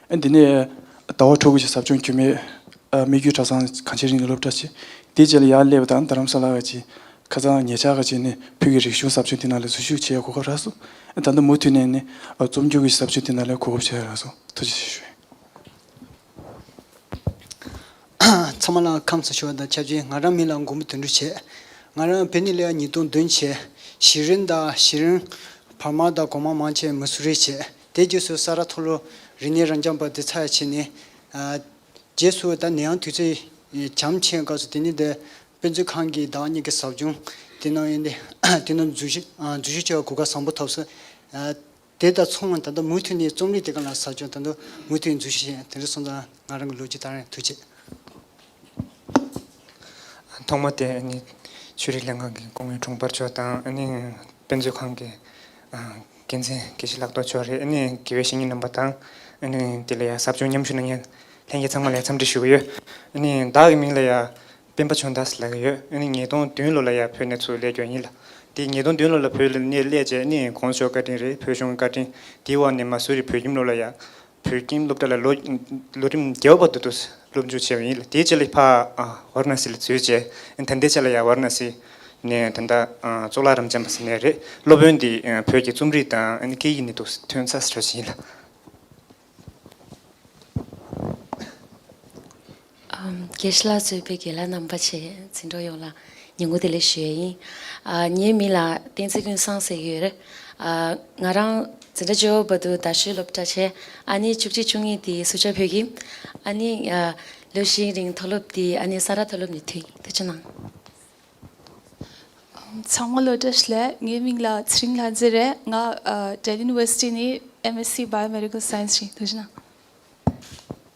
འདི་ནས་ཟླ་བ་དྲུག་གི་ཟབ་སྦྱོང་རྒྱུས་མེད་སྨིག་རྒྱུའི་གྲྭ་ཚང་གང་ཅིའི་རིང་ལ་སློབ་གྲྭ་བྱས། དེའི་རྗེས་ལ་ཡར་ཀླད་པ་དང་རྡ་རམ་ས་ལ་བཅས་ཁ་ཚང་ཉེ་ཆར་ཁ་ཆེ་ནས་ཕུད་ཀྱི་རིག་གཞུང་ཟབ་སྦྱོང་དེ་རྣམས་ལ་འཛུལ་ཞུགས་བྱས་ཡོད་གོ་སྐབས་རག་སོང། ད་ལྟ་མུ་མཐུད་ནས་ནི་རྩོམ་སྒྱུར་གྱི་ཟབ་སྦྱོང་དེ་རྣམས་ལ་གོ་སྐབས་བྱས་ཡོད་རག་སོང། ཐུགས་རྗེ་ཆེ་ཞུ། ཚང་མ་ལ་ཁམས་བཟང་ཞུ་བ་དང་ཆབས་ཅིག་ང་རང་མི་ལ་མགོན་པོ་དོན་འགྲུབ་བྱས། ང་རང་བོད་ནས་ལེའ་ཉིས་སྟོང་བདུན་བྱས། བཞི་རིམ་དང་བཞི་རིམ། བར་མ་དང་གོང་མ་མང་ཆེ་མི་སུ་རེ་བྱས། དེ་རྗེས་སུ་ས་རཱ་ཐོ་ལོ་རི་ནེ་རང་བྱམས་པ་དེ་ཚར་བྱས་ནས། རྗེས་སུ་ད་ནེའང་དུས་ཚོད་བྱམས་ཆེན་སྐབས་སུ་དེ་ནི་དཔེ་མཛོད་ཁང་གི་བདག་གཉེར་གྱི་ཟབ་སྦྱོང་དེ་ནང་ཡོད། དེ་རྣམས་འཛུལ་ཞུགས་བྱ་བར་གོ་སྐབས་བཟང་པོ་ཐོབ། དེ་དང་མཚུངས་ད་ལྟ་མུ་མཐུད་ནས་རྩོམ་རིག་དེ་ག་ལ་ཟབ་སྦྱོང་ད་དུང་མུ་མཐུད་འཛུལ་ཞུགས་བྱས། དེ་འདྲ་སོང་ཙང་ང་རང་གི་ལོ་རྒྱུས་དག་ཡང་ཐུགས་ཆེ། ཐོག་མ་དེ་ནི་ཆོས་རིག་ལྷན་ཁང་གི་ཀོང་ཡུལ་གྲོང་པར་ཕྱོགས་དང་དཔེ་མཛོད་ཁང་གི། དགེ་མཚན་དགེ་བཤེས་ལགས་དོགས་ཆོག་རེད་ཨ་ནི་དགེ་བའི་བཤེས་གཉེན་རྣམ་པ་དང་ཨ་ནི་དེ་ལ་ཡང་ཟབ་སྦྱོང་མཉམ་ཞུ་གནང་མཁན་ལྷན་རྒྱས་ཚང་མ་ལ་ཡང་འཚམས་འདྲི་ཞུ་གི་ཡོད་ཨ་ནི་བདག་གི་མིང་ལ་ཡང་སྤེན་པ་ཆོས་མདའ་ཟླ་གི་ཡོད་ཨ་ནི་ཉིས་སྟོང་བདུན་ལོ་ལ་ཡང་བོད་གནས་ཚུལ་གླད་སྐྱོན་ཡིན་ལ་དེ་ཉིས་སྟོང་བདུན་ལོ་ལ་བོད་གནས་གླད་རྗེས་ཨ་ནི་གོང་ཞོག་བཀའ་དྲིན་རེད་བོད་གཞུང་བཀའ་དྲིན་དེའི་འོག་ནས་མ་སུ་རི་བོད་ཁྱིམ་ལོ་ལ་ཡང་བོད་ཀྱི་སློབ་གྲྭ་ལ་ལོ་རིམ་བརྒྱད་པ་དུ་དུ་སློབ་འཇུག་བྱས་པ་ཡིན་ལ་དེའི་རྗེས་ལ་ཕ་བར་ན་སི་ལ་བཙོས་རྗེས་ད་ལྟའི་ཆ་ལ་ཡང་བར་ན་སི་ནས་ད་ལྟ་གཙུག་ལག་རམ་ཅན་པ་ཟེར་ནས་རེད། སློབ་དཔོན་འདི་བོད་ཀྱི་རྩོམ་རིག་དང་སྐད་ཡིག་ནས་དུས་ཐོན་ཚ་ས་ར་ཞིག་ཡིན་ལ། གྱད་གཞི་ལ་བཟོས་པའི་དགེ་ལ་རྣམ་པ་ཆེ་འཛིན་གྲོགས་ཡོངས་ལ་ཉེ་མགོ་དེ་ལས་ཞུ་ཡས་ཡིན། ངའི་མིང་ལ་བསྟན་འཛིན་ཀུན་བཟང་ཟེར་གྱི་ཡོད་རེད། ང་རང་འཛིན་གྲྭ་ཇོ་བོ་དུ་དར་ཤོད་སློབ་གྲྭ་ཆེན་ཨ་ནེ་བཅུ་གཅིག་བཅུ་གཉིས་དེའི་སུ་ཇཱ་བོད་ཀྱི་ཨ་ནེ། ལོ་ཤིང་རིང་མཐོ་སློབ་དེའི་ཨ་ནེ་ས་ར་མཐོ་སློབ་ནས་ཐུགས་ཆེན་གནང། ཚང་མ་བློ་གྲོས་ཞུ་ལེ་ངའི་མིང་ལ་ཚེ་རིང་ལྷ་མཛེས་རེད་ང Delhi University ནས MSc Biomedical Science བྱས་ཐུགས་ཆེན་གནང།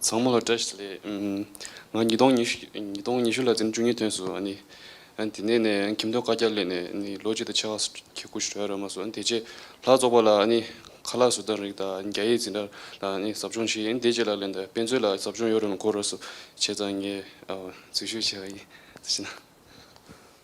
ཚང་མ་ལ་བཀྲ་ཤིས་ལེ། ང་ཉིས་སྟོང་ཉི་ཤུ་ཉིས་སྟོང་ཉི་ཤུ་ལ་ཚེམ་བཅུ་གཉིས་ཐོན་སོང། དེ་ནས་ནས་ཁྱིམ་ཐོ་བཀའ་རྒྱ་གླེང་ནས་ལོ་གཅིག་དང་ཕྱེད་ཀ་ཁྱི་རྐུ་ཞུ་ར་རོལ་མ་སོང་དེ་རྗེས་ལྷ་བཙོག་པ་ལ་ཁ་ལག་ཟུར་བཏང་རིགས་དང་རྒྱ་ཡིག་འཛིན་གྲྭ་ལ་ཟབ་སྦྱོང་བྱས་དེ་རྗེས་ལ་ལེན་དང་དཔེ་མཛོད་ལ་ཟབ་སྦྱོང་ཡོད་རུང་གོ་རོ་སུ་བྱས་ཙང་ངས་འཛུལ་ཞུགས་བྱས་པ་ཡིན།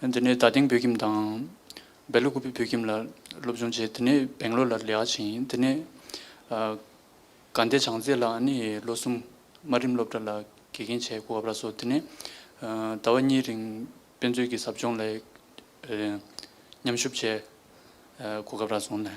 དེ་ནས་ད་ཐེངས་བོད་ཁྱིམ་དང། སྦེ་ལུ་ཀུ་པི་བོད་ཁྱིམ་ལ་སློབ་སྦྱོང་བྱས་དེ་ནས་སྦེང་ལོར་ལ་ལེགས་ཕྱིན་དེ་ནས། དགའ་ལྡན་བྱང་རྩེ་ལགས་ནི་ལོ་གསུམ་དམའ་རིམ་སློབ་གྲྭ་ལ་དགེ་རྒན་བྱས་སྐུ་བབས་ར་སོགས་དེ་ནས། ཟླ་བ་གཉིས་རིང་དཔེ་མཛོད་ཀྱི་ཟབ་སྦྱོང་ལས། མཉམ་ཞུབས་བྱས། གོ་སྐབས་རག་སོང་ནས།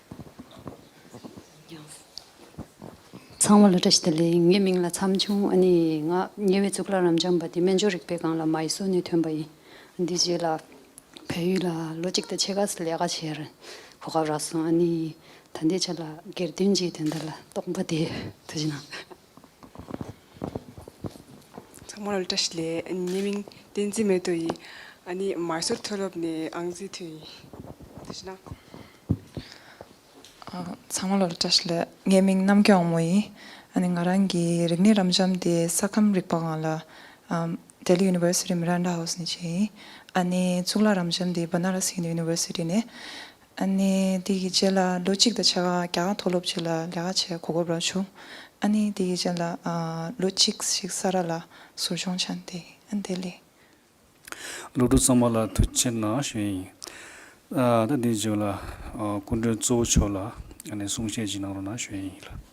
ཚང་མ་ལོ་ཏྲ་ཞི་ཏི་ལི་ངའི་མིང་ལ་མཚམས་ཆུང་ཨ་ནི་ང་ཉེ་བའི་གཙུག་ལག་རབ་འབྱམས་པ་འདི་སྨན་སྦྱོར་རིག་པའི་སྒང་ལ་མ་ཡི་སྲོལ་ནས་ཐོན་པ་ཡིན་འདི་རྗེས་ལ་བལ་ཡུལ་ལ་ལོ་གཅིག་དང་ཕྱེད་ཀ་སི་ལས་ཀ་བྱེད་རིང་གོ་སྐབས་རག་སོང་ཨ་ནི་ད་ལྟའི་ཆ་ལ་སྒེར་དོན་གྱི་དོན་དག་ལ་རྟོག་པ་དེ་ཚོ་ཞིག་སྣང། ཚང་མ་ལ་བཀྲ་ཤིས་ལེ། ཉེས་མིང་བསྟན་འཛིན་མེ་ཏོ་ཡི། ཨ་ནི་མར་སོར་མཐོ་སློབ་ནས་ཨང་རྩིས་ཐོན་ཡིན། དེ་བཞིན་ན། ཚང་མ་ལ་བཀྲ་ཤིས་ལེ། ངའི་མིང་རྣམ་རྒྱལ་དབང་མོ་ཡིན། ཨ་ནི་ང་རང་གི་རིག་གནས་རབ་འབྱམས་དེ་ས་ཁམས་རིག་པ་ཁང་ལ། Delhi University Miranda House ནས་བྱས་ཡིན། ཨ་ནི་གཙུག་ལག་རབ་འབྱམས་དེ Banaras Hindu University ནས། ཨ་ནི་དེ་ཡི་རྗེས་ལ་ལོ་གཅིག་དང་ཕྱེད་ཀ་རྒྱ་གར་མཐོ་སློབ་ཅིག་ལ་ལས་ཀ་བྱེད་གོ་སྐབས་རག་བྱུང། ཨ་ནི་དེ་ཡི་རྗེས་ལ་ལོ་གཅིག་ཞིག་ས་རཱ་ལ་ཟུར་སྦྱོང་བྱས་ཏེ་ཨ་དེ་ལས། སློབ་ཕྲུག་ཚང་མ་ལ་ཐུགས་ཆེ་གནང་བཞིན་ཡིན། ད་དེའི་རྗེས་ལ་སྐུ་མགྲོན་གཙོ་བོ་མཆོག་ལ་གསུང་བཤད་ཅིག་གནང་རོགས་གནང་བཞིན་ཡིན།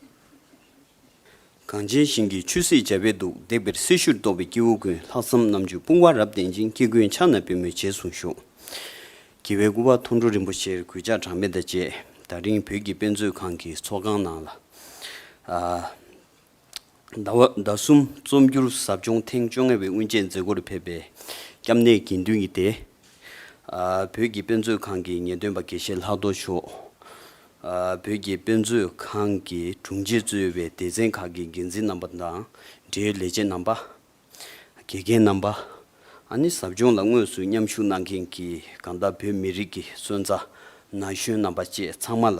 གངས་ཅན་ཞིང་གི་ཆུ་སྲིད་འཇའ་བས་དུག་འདེགས་པའི་སྲི་ཞུར་གཏོགས་པའི་སྐྱེ་བོ་ཀུན་ལྷག་བསམ་རྣམ་དཔྱོད་དཔུང་བ་རབ་ལྡན་ཅིང་སྐྱེ་ཀུན་ཕྱག་ན་པུས་མོའི་རྗེས་བཟུང་བཞུགས། དགེ་བའི་སྐུ་བ་མཐོ་འབྲོག་རིན་པོ་ཆེར་གུས་ཕྱག་གྲངས་མེད་དང་བཅས་ད་རིང་བོད་ཀྱི་དཔེ་མཛོད་ཁང་གི་ཚོགས་ཁང་ནང་ལ། ཟླ་བ་ཟླ་གསུམ་རྩོམ་སྒྱུར་ཟབ་སྦྱོང་ཐེངས་བཅོ་ལྔ་བའི་དབུ་འབྱེད་མཛད་སྒོར་ཕེབས་པའི་སྐྱབས་གནས་དགེ་འདུན་གྱི་སྡེ། བོད་ཀྱི་དཔེ་མཛོད་ཁང་གི་ངེས་སྟོན་པ་དགེ་བཤེས་ལྷག་རྡོར་མཆོག། བོད་ཀྱི་དཔེ་མཛོད་ཁང་གི་དྲུང་ཆེ་གཙོས་པའི་སྡེ་ཚན་ཁག་གི་འགན་འཛིན་རྣམ་པ་དང་འབྲེལ་ཡོད་ལས་བྱེད་རྣམ་པ། དགེ་རྒན་རྣམ་པ། ཨ་ནི་ཟབ་སྦྱོང་ལ་དངོས་སུ་མཉམ་ཞུགས་གནང་མཁན་གྱི་དགའ་མདའ་བོད་མི་རིགས་ཀྱི་སོན་རྩ་ན་གཞོན་རྣམ་པ་བཅས་ཚང་མ་ལ།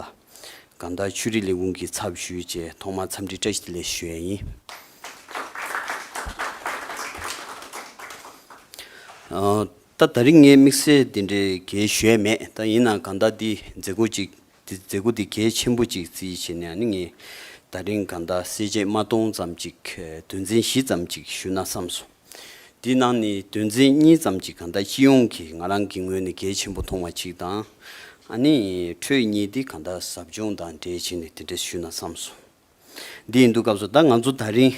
དགའ་མདའ་ཆོས་རིག་ལས་ཁུངས་ཀྱི་ཚབ་ཞུས་རྗེས་ཐོག་མར་འཚམས་འདྲི་བཀྲ་ཤིས་ལེ་ཞུ་ཡས་ཡིན། ད་ད་རིགས་ལྔའི་དམིགས་བསལ་འདི་འདྲའི་གལ་ཞོད་མེད་ད་ཡིན་ནའང་གང་ལྟར་འདི་མཛད་སྒོ་ཅིག་འདི་མཛད་སྒོ་འདི་གལ་ཆེན་པོ་ཅིག་རྩིས་བྱེད་ནའང་ངས་ད་རིང་གང་ལྟར་གསལ་བྱེད་མ་སྟོང་ཙམ་ཅིག་དོན་ཚན་བཞི་ཙམ་ཅིག་ཞུ་ན་བསམ་སོང། འདི་ནང་ནས་དོན་ཚན་གཉིས་ཙམ་ཅིག་གང་ལྟར་སྤྱི་ཡོངས་ཀྱི་ང་རང་གི་ངོས་ནས་གལ་ཆེན་པོ་མཐོང་བ་ཅིག་དང། ཨ་ནི། ཁྲོད་གཉིས་འདི་གང་ལྟར་ཟབ་སྦྱོང་དང་འབྲེལ་བྱས་ནས་འདི་འདྲ་ཞུ་ན་བསམ་སོང། འདི་ཡིན་འདུག་སྐབས་སུ་ད་ང་ཚོ་ད་རིང།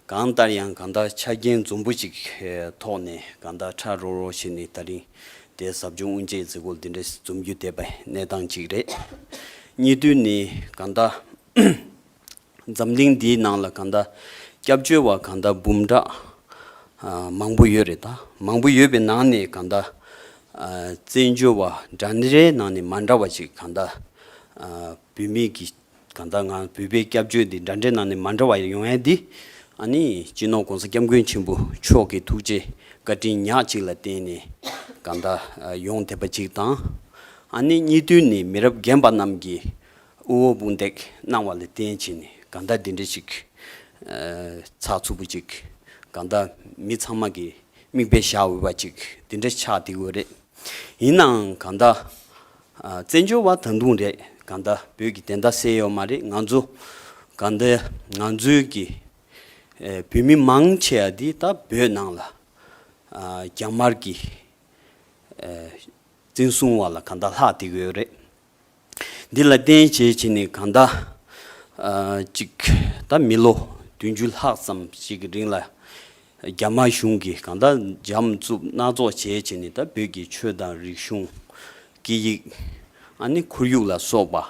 གང་ལྟར་ཡང་གང་ལྟར་ཆ་རྐྱེན་འཛོམས་པོ་ཅིག་ཐོག་ནས་གང་ལྟར་ཁྲ་རོ་རོ་བྱས་ནས་ད་རིང་དེ་ཟབ་སྦྱོང་དབུ་འབྱེད་མཛད་སྒོ་འདི་འདྲ་འཛོམས་རྒྱུ་དེ་བས་གནས་སྟངས་ཅིག་རེད། གཉིས་དུས་ནི་གང་ལྟར། འཛམ་གླིང་འདིའི་ནང་ལ་གང་ལྟར་སྐྱབས་བཅོལ་བ་གང་ལྟར་འབུམ་ཕྲག་མང་པོ་ཡོད་རེད་ད། མང་པོ་ཡོད་པའི་ནང་ནས་གང་ལྟར། བཙན་བྱོལ་བ་འདྲ་འདྲའི་ནང་ནས་མ་འདྲ་བ་ཅིག་གང་ལྟར་བུད་མེད་ཀྱི་ད་ལྟ་ང་འབུལ་པའི་སྐྱབས་བཅོལ་འདི་འདྲ་འདྲའི་ནང་ནས་མ་འདྲ་བ་ཡོང་ཡས་འདི། ཨ་ནི་སྤྱི་ནོར་གོང་ས་སྐྱབས་མགོན་ཆེན་པོ་མཆོག་གི་ཐུགས་རྗེ་བཀའ་དྲིན་ཉག་གཅིག་ལ་བརྟེན་ནས་ག་ད་ཡོང་ཐེབས་པ་གཅིག་དང། ཨ་ནི་གཉིས་བསྟུན་ནས་མི་རབས་རྒན་པ་རྣམས་ཀྱིས་དབུ་འོག་དཔུང་འདེགས་གནང་བ་ལ་བརྟེན་ཕྱིན་ནས་ག་ད་འདི་འདྲ་ཞིག་ཚགས་ཚུད་པོ་གཅིག་ག་ད་མི་ཚང་མ་གིས་མིག་དཔེ་བཞག་འོས་པ་གཅིག་འདི་འདྲ་ཆགས་འདི་འོས་རེད། ཡིན་ནའང་ག་ད་བཙན་བྱོལ་བ་ད་དུང་རེད་ག་འདའ་བོད་ཀྱི་དེ་འདའ་བསད་ཡོད་མ་རེད་ང་ཚོ་ག་འདའ་ང་ཚོའི་ཀྱི་བོད་མི་མང་ཆེ་བ་འདི་ད་བོད་ནང་ལ་རྒྱ་དམར་ཀྱི་བཙན་བཟུང་བ་ལ་ག་འདའ་ལྷག་འདེགས་ཡོད་རེད་འདི་ལ་བརྟེན་བྱེད་བྱེད་ནི་ག་འདའ་ཅིག་ད་མི་ལོ་བདུན་ཅུ་ལྷག་ཙམ་ཞིག་གི་རིང་ལ་རྒྱ་དམར་གཞུང་གིས་གང་ལྟར་འཇམ་རྩུབ་སྣ་ཚོགས་བྱས་བྱས་ནས་ད་བོད་ཀྱི་ཆོས་དང་རིག་གཞུང། སྐད་ཡིག། ཨ་ནི་ཁོར་ཡུག་ལ་སོགས་པ།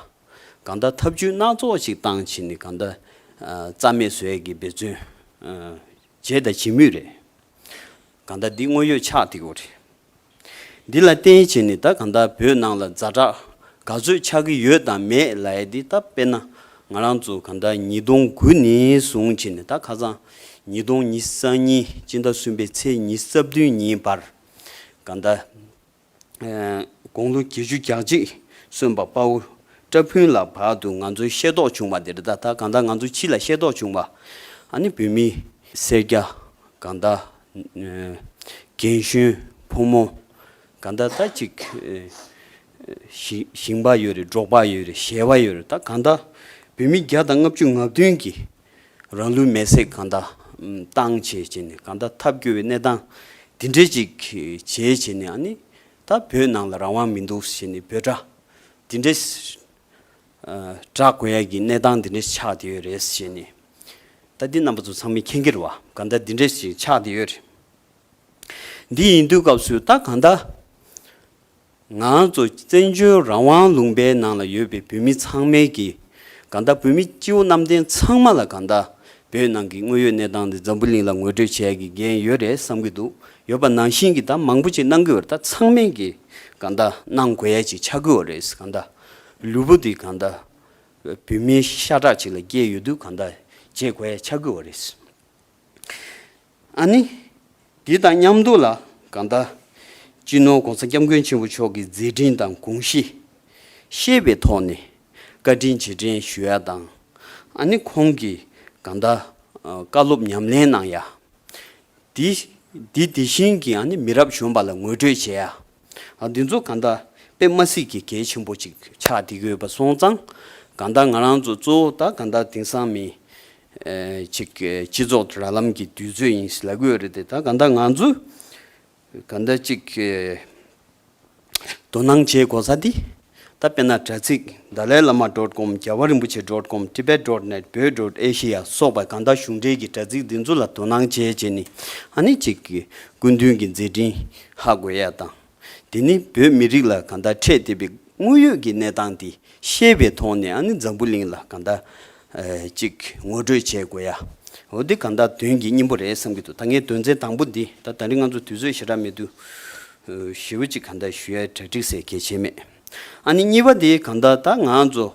གང་ལྟར་ཐབས་ཇུས་སྣ་ཚོགས་ཤིག་བཏང་བྱས་ནས་གང་ལྟར་རྩ་མེད་བཟོས་ཀྱི་འབད་བརྩོན་བྱས་དང་བྱེད་མུས་རེད། གང་ལྟར་འདི་དངོས་ཡོད་ཆགས་ཐིག་རེད། འདི་ལ་བསྟན་བྱས་ནི་ད་གང་དག་བོད་ནང་ལ་རྫ་དྲག་ག་ཚོད་ཆགས་ཀྱི་ཡོད་དམ་མེད་ལ་ཡ་འདི་ལྟ་དཔེར་ན་ང་རང་ཚོ་གང་དག་ཉིས་སྟོང་དགུ་ནས་བཟུང་བྱས་ནི་ད་ཁ་སང་ཉིས་སྟོང་ཉིས་ས་གཉིས་སྤྱི་ཟླ་གསུམ་པའི་ཚེས་ཉིས་རྩ་བདུན་ཉིན་བར་གང་དག་དགུང་ལོ་བརྒྱད་ཅུ་གྱ་གཅིག་སོན་པ་དཔའ་བོ་བཀྲ་ཕུན་ལ་བར་དུ་ང་ཚོའི་ཤེས་རྟོགས་བྱུང་བ་འདི་རེད་ད་གང་དག་ང་ཚོ་ཕྱི་ལ་ཤེས་རྟོགས་བྱུང་བ་ཨ་ནི་བོད་མི་སེར་སྐྱ་གང་དག་རྒན་གཞོན་ཕོ་མོ་ག་འདྲ་ད་ཅིག་ཞིང་པ་ཡོད་རེད་འབྲོག་པ་ཡོད་རེད་གཞས་པ་ཡོད་རེད་ད་གང་ལྟ་བུས་མི་བརྒྱ་དང་ལྔ་བཅུ་ང་བདུན་གྱིས་རང་ལུས་མེ་བསྲེགས་གང་ལྟ་སྟངས་བྱས་བྱས་ནས་གང་ལྟ་ཐབས་སྐྱོ་བའི་གནས་སྟངས་འདི་འདྲས་ཅིག་བྱས་བྱས་ནས་ཨ་ནི་ད་བོད་ནང་ལ་རང་དབང་མི་འདུག་ཟེར་ནས་བོད་དགྲ་འདི་འདྲས་བྲག་དགོན་ཡར་གྱི་གནས་སྟངས་འདི་འདྲའི་ཆགས་དེ་ཡོད་རེད་ཞེས་ནི། ད་འདི་རྣམ་པ་ཚོ་ཚང་མའི་ཁེངས་ཁེར་བ་གང་ལྟར་འདི་འདྲའི་ཞིག་ཆགས་དེ་ཡོད་རེད། འདི་ཡིན་དུས་སྐབས་སུ་ད་གང་ལྟར། ང་ཚོ་བཙན་བྱོལ་རང་དབང་ལུང་པའི་ནང་ལ་ཡོད་པའི་བོད་མི་ཚང་མའི་གིས་གང་ལྟར་བོད་མི་སྤྱི་བོ་གནམ་བསྟན་ཚང་མ་ལ་གང་ལྟར་བོད་ནང་གི་དངོས་ཡོད་གནས་སྟངས་འདི་འཛམ་བུ་གླིང་ལ་ངོ་སྤྲོད་བྱས་ཀྱི་འགན་ཡོད་རེད་བསམ་གྱི་འདུག་ཡོད་པ་ནང་བཞིན་གྱི་ད་མང་པོ་ཅིག་གནང་གི་ཡོད་རེད་ད་ཚང་མའི་གིས། གང་དག་སྣང་དགོས་ཡས་ཀྱི་ཆ་གོས་བ་རེད་གང་དག། ལུས་པོ་འདི་གང་དག། བུད་མེད་ཤ་ཁྲག་ཅིག་ལ་སྐྱེས་ཡོད་དུས་གང་དག་བརྗེད་གོས་ཡས་ཆ་གོས་བ་རེད། ཨ་ནི། འདི་དང་མཉམ་དུ་ལ་གང་དག། སྤྱི་ནོར ྋགོང་ས ྋསྐྱབས་མགོན་ཆེན་པོ་མཆོག་གི་མཛད་འཕྲིན་དང་དགོངས་གཞི། ཤེས་པའི་ཐོག་ནས་བཀའ་དྲིན་རྗེས་དྲན་ཞུ་ཡ་དང། ཨ་ནི་ཁོང་གིས་གང་དག། བཀའ་སློབ་ཉམས་ལེན་གནང་ཡ། དེ་དེ་དེ་བཞིན་གྱི་ནི་མི་རབས་གཞོན་པ་ལ་ངོས་སྤྲོད་བྱས། འདི་ཚོ་གང་ལྟ། པདྨ་སྲིད་ཀྱི་གལ་ཆེན་པོ་ཅིག་ཆགས་འདི་དགོས་པ་སོང་ཙང། གང་ལྟ་ང་རང་ཚོ་གཙོ་བོ་ད་གང་ལྟ་དེང་སང་མི། ཅིག་སྤྱི་ཚོགས་ར་ལམ་གྱི་དུས་ཚོད་ཡིན་སྲིད་ལ་དགོས་རེད་དེ་ད་གང་ལྟ་ང་ཚོས། གང་འདྲ་གཅིག། དོ་སྣང་བྱེད་དགོས་ས་འདི། ད་དཔེ་ན་དྲ་ཚིགས Dalai Lama dot com རྒྱལ་བ་རིན་པོ་ཆེ dot com Tibet dot net བོད dot Asia སོགས་པ་གང་དག་གཞུང་འབྲེལ་གྱི་དྲ་ཚིགས་འདི་ཚོ་ལ་དོ་སྣང་བྱས་བྱས་ནི་ཨ་ནི་གཅིག། སྐུ་མདུན་གྱི་མཛད་འཕྲིན་ཧ་དགོས་ཡ་དང། དེ་ནི་བོད་མི་རིགས་ལ་གང་དག་འཕྲད་བསྡད་པའི་དངོས་ཡོད་ཀྱི་གནས་སྟངས་དེ་ཤེས་པའི་ཐོག་ནས་ཨ་ནི་འཛམ་བུ་གླིང་ལ་གང་དག་ཅིག་ངོ་སྤྲོད་བྱེད་དགོས་ཡ། འོ་འདི་གང་དག་དོན་གྱི་སྙིང་པོ་རེད་བསམ་གྱི་འདུག་ད་ངའི་དོན་ཚན་དང་པོ་འདི་ད་ད་རིང་ང་ཚོ་དུས་ཚོད་ཞེ་དྲག་མེད་དུ། ཞེ་བོ་ཅིག་གང་དག་ཞུ་ཡ་གྲ་སྒྲིག་སའི་གལ་ཆེན་མེད། ཨ་ནི་གཉིས་པ་འདི་གང་དག་ད་ང་ཚོ།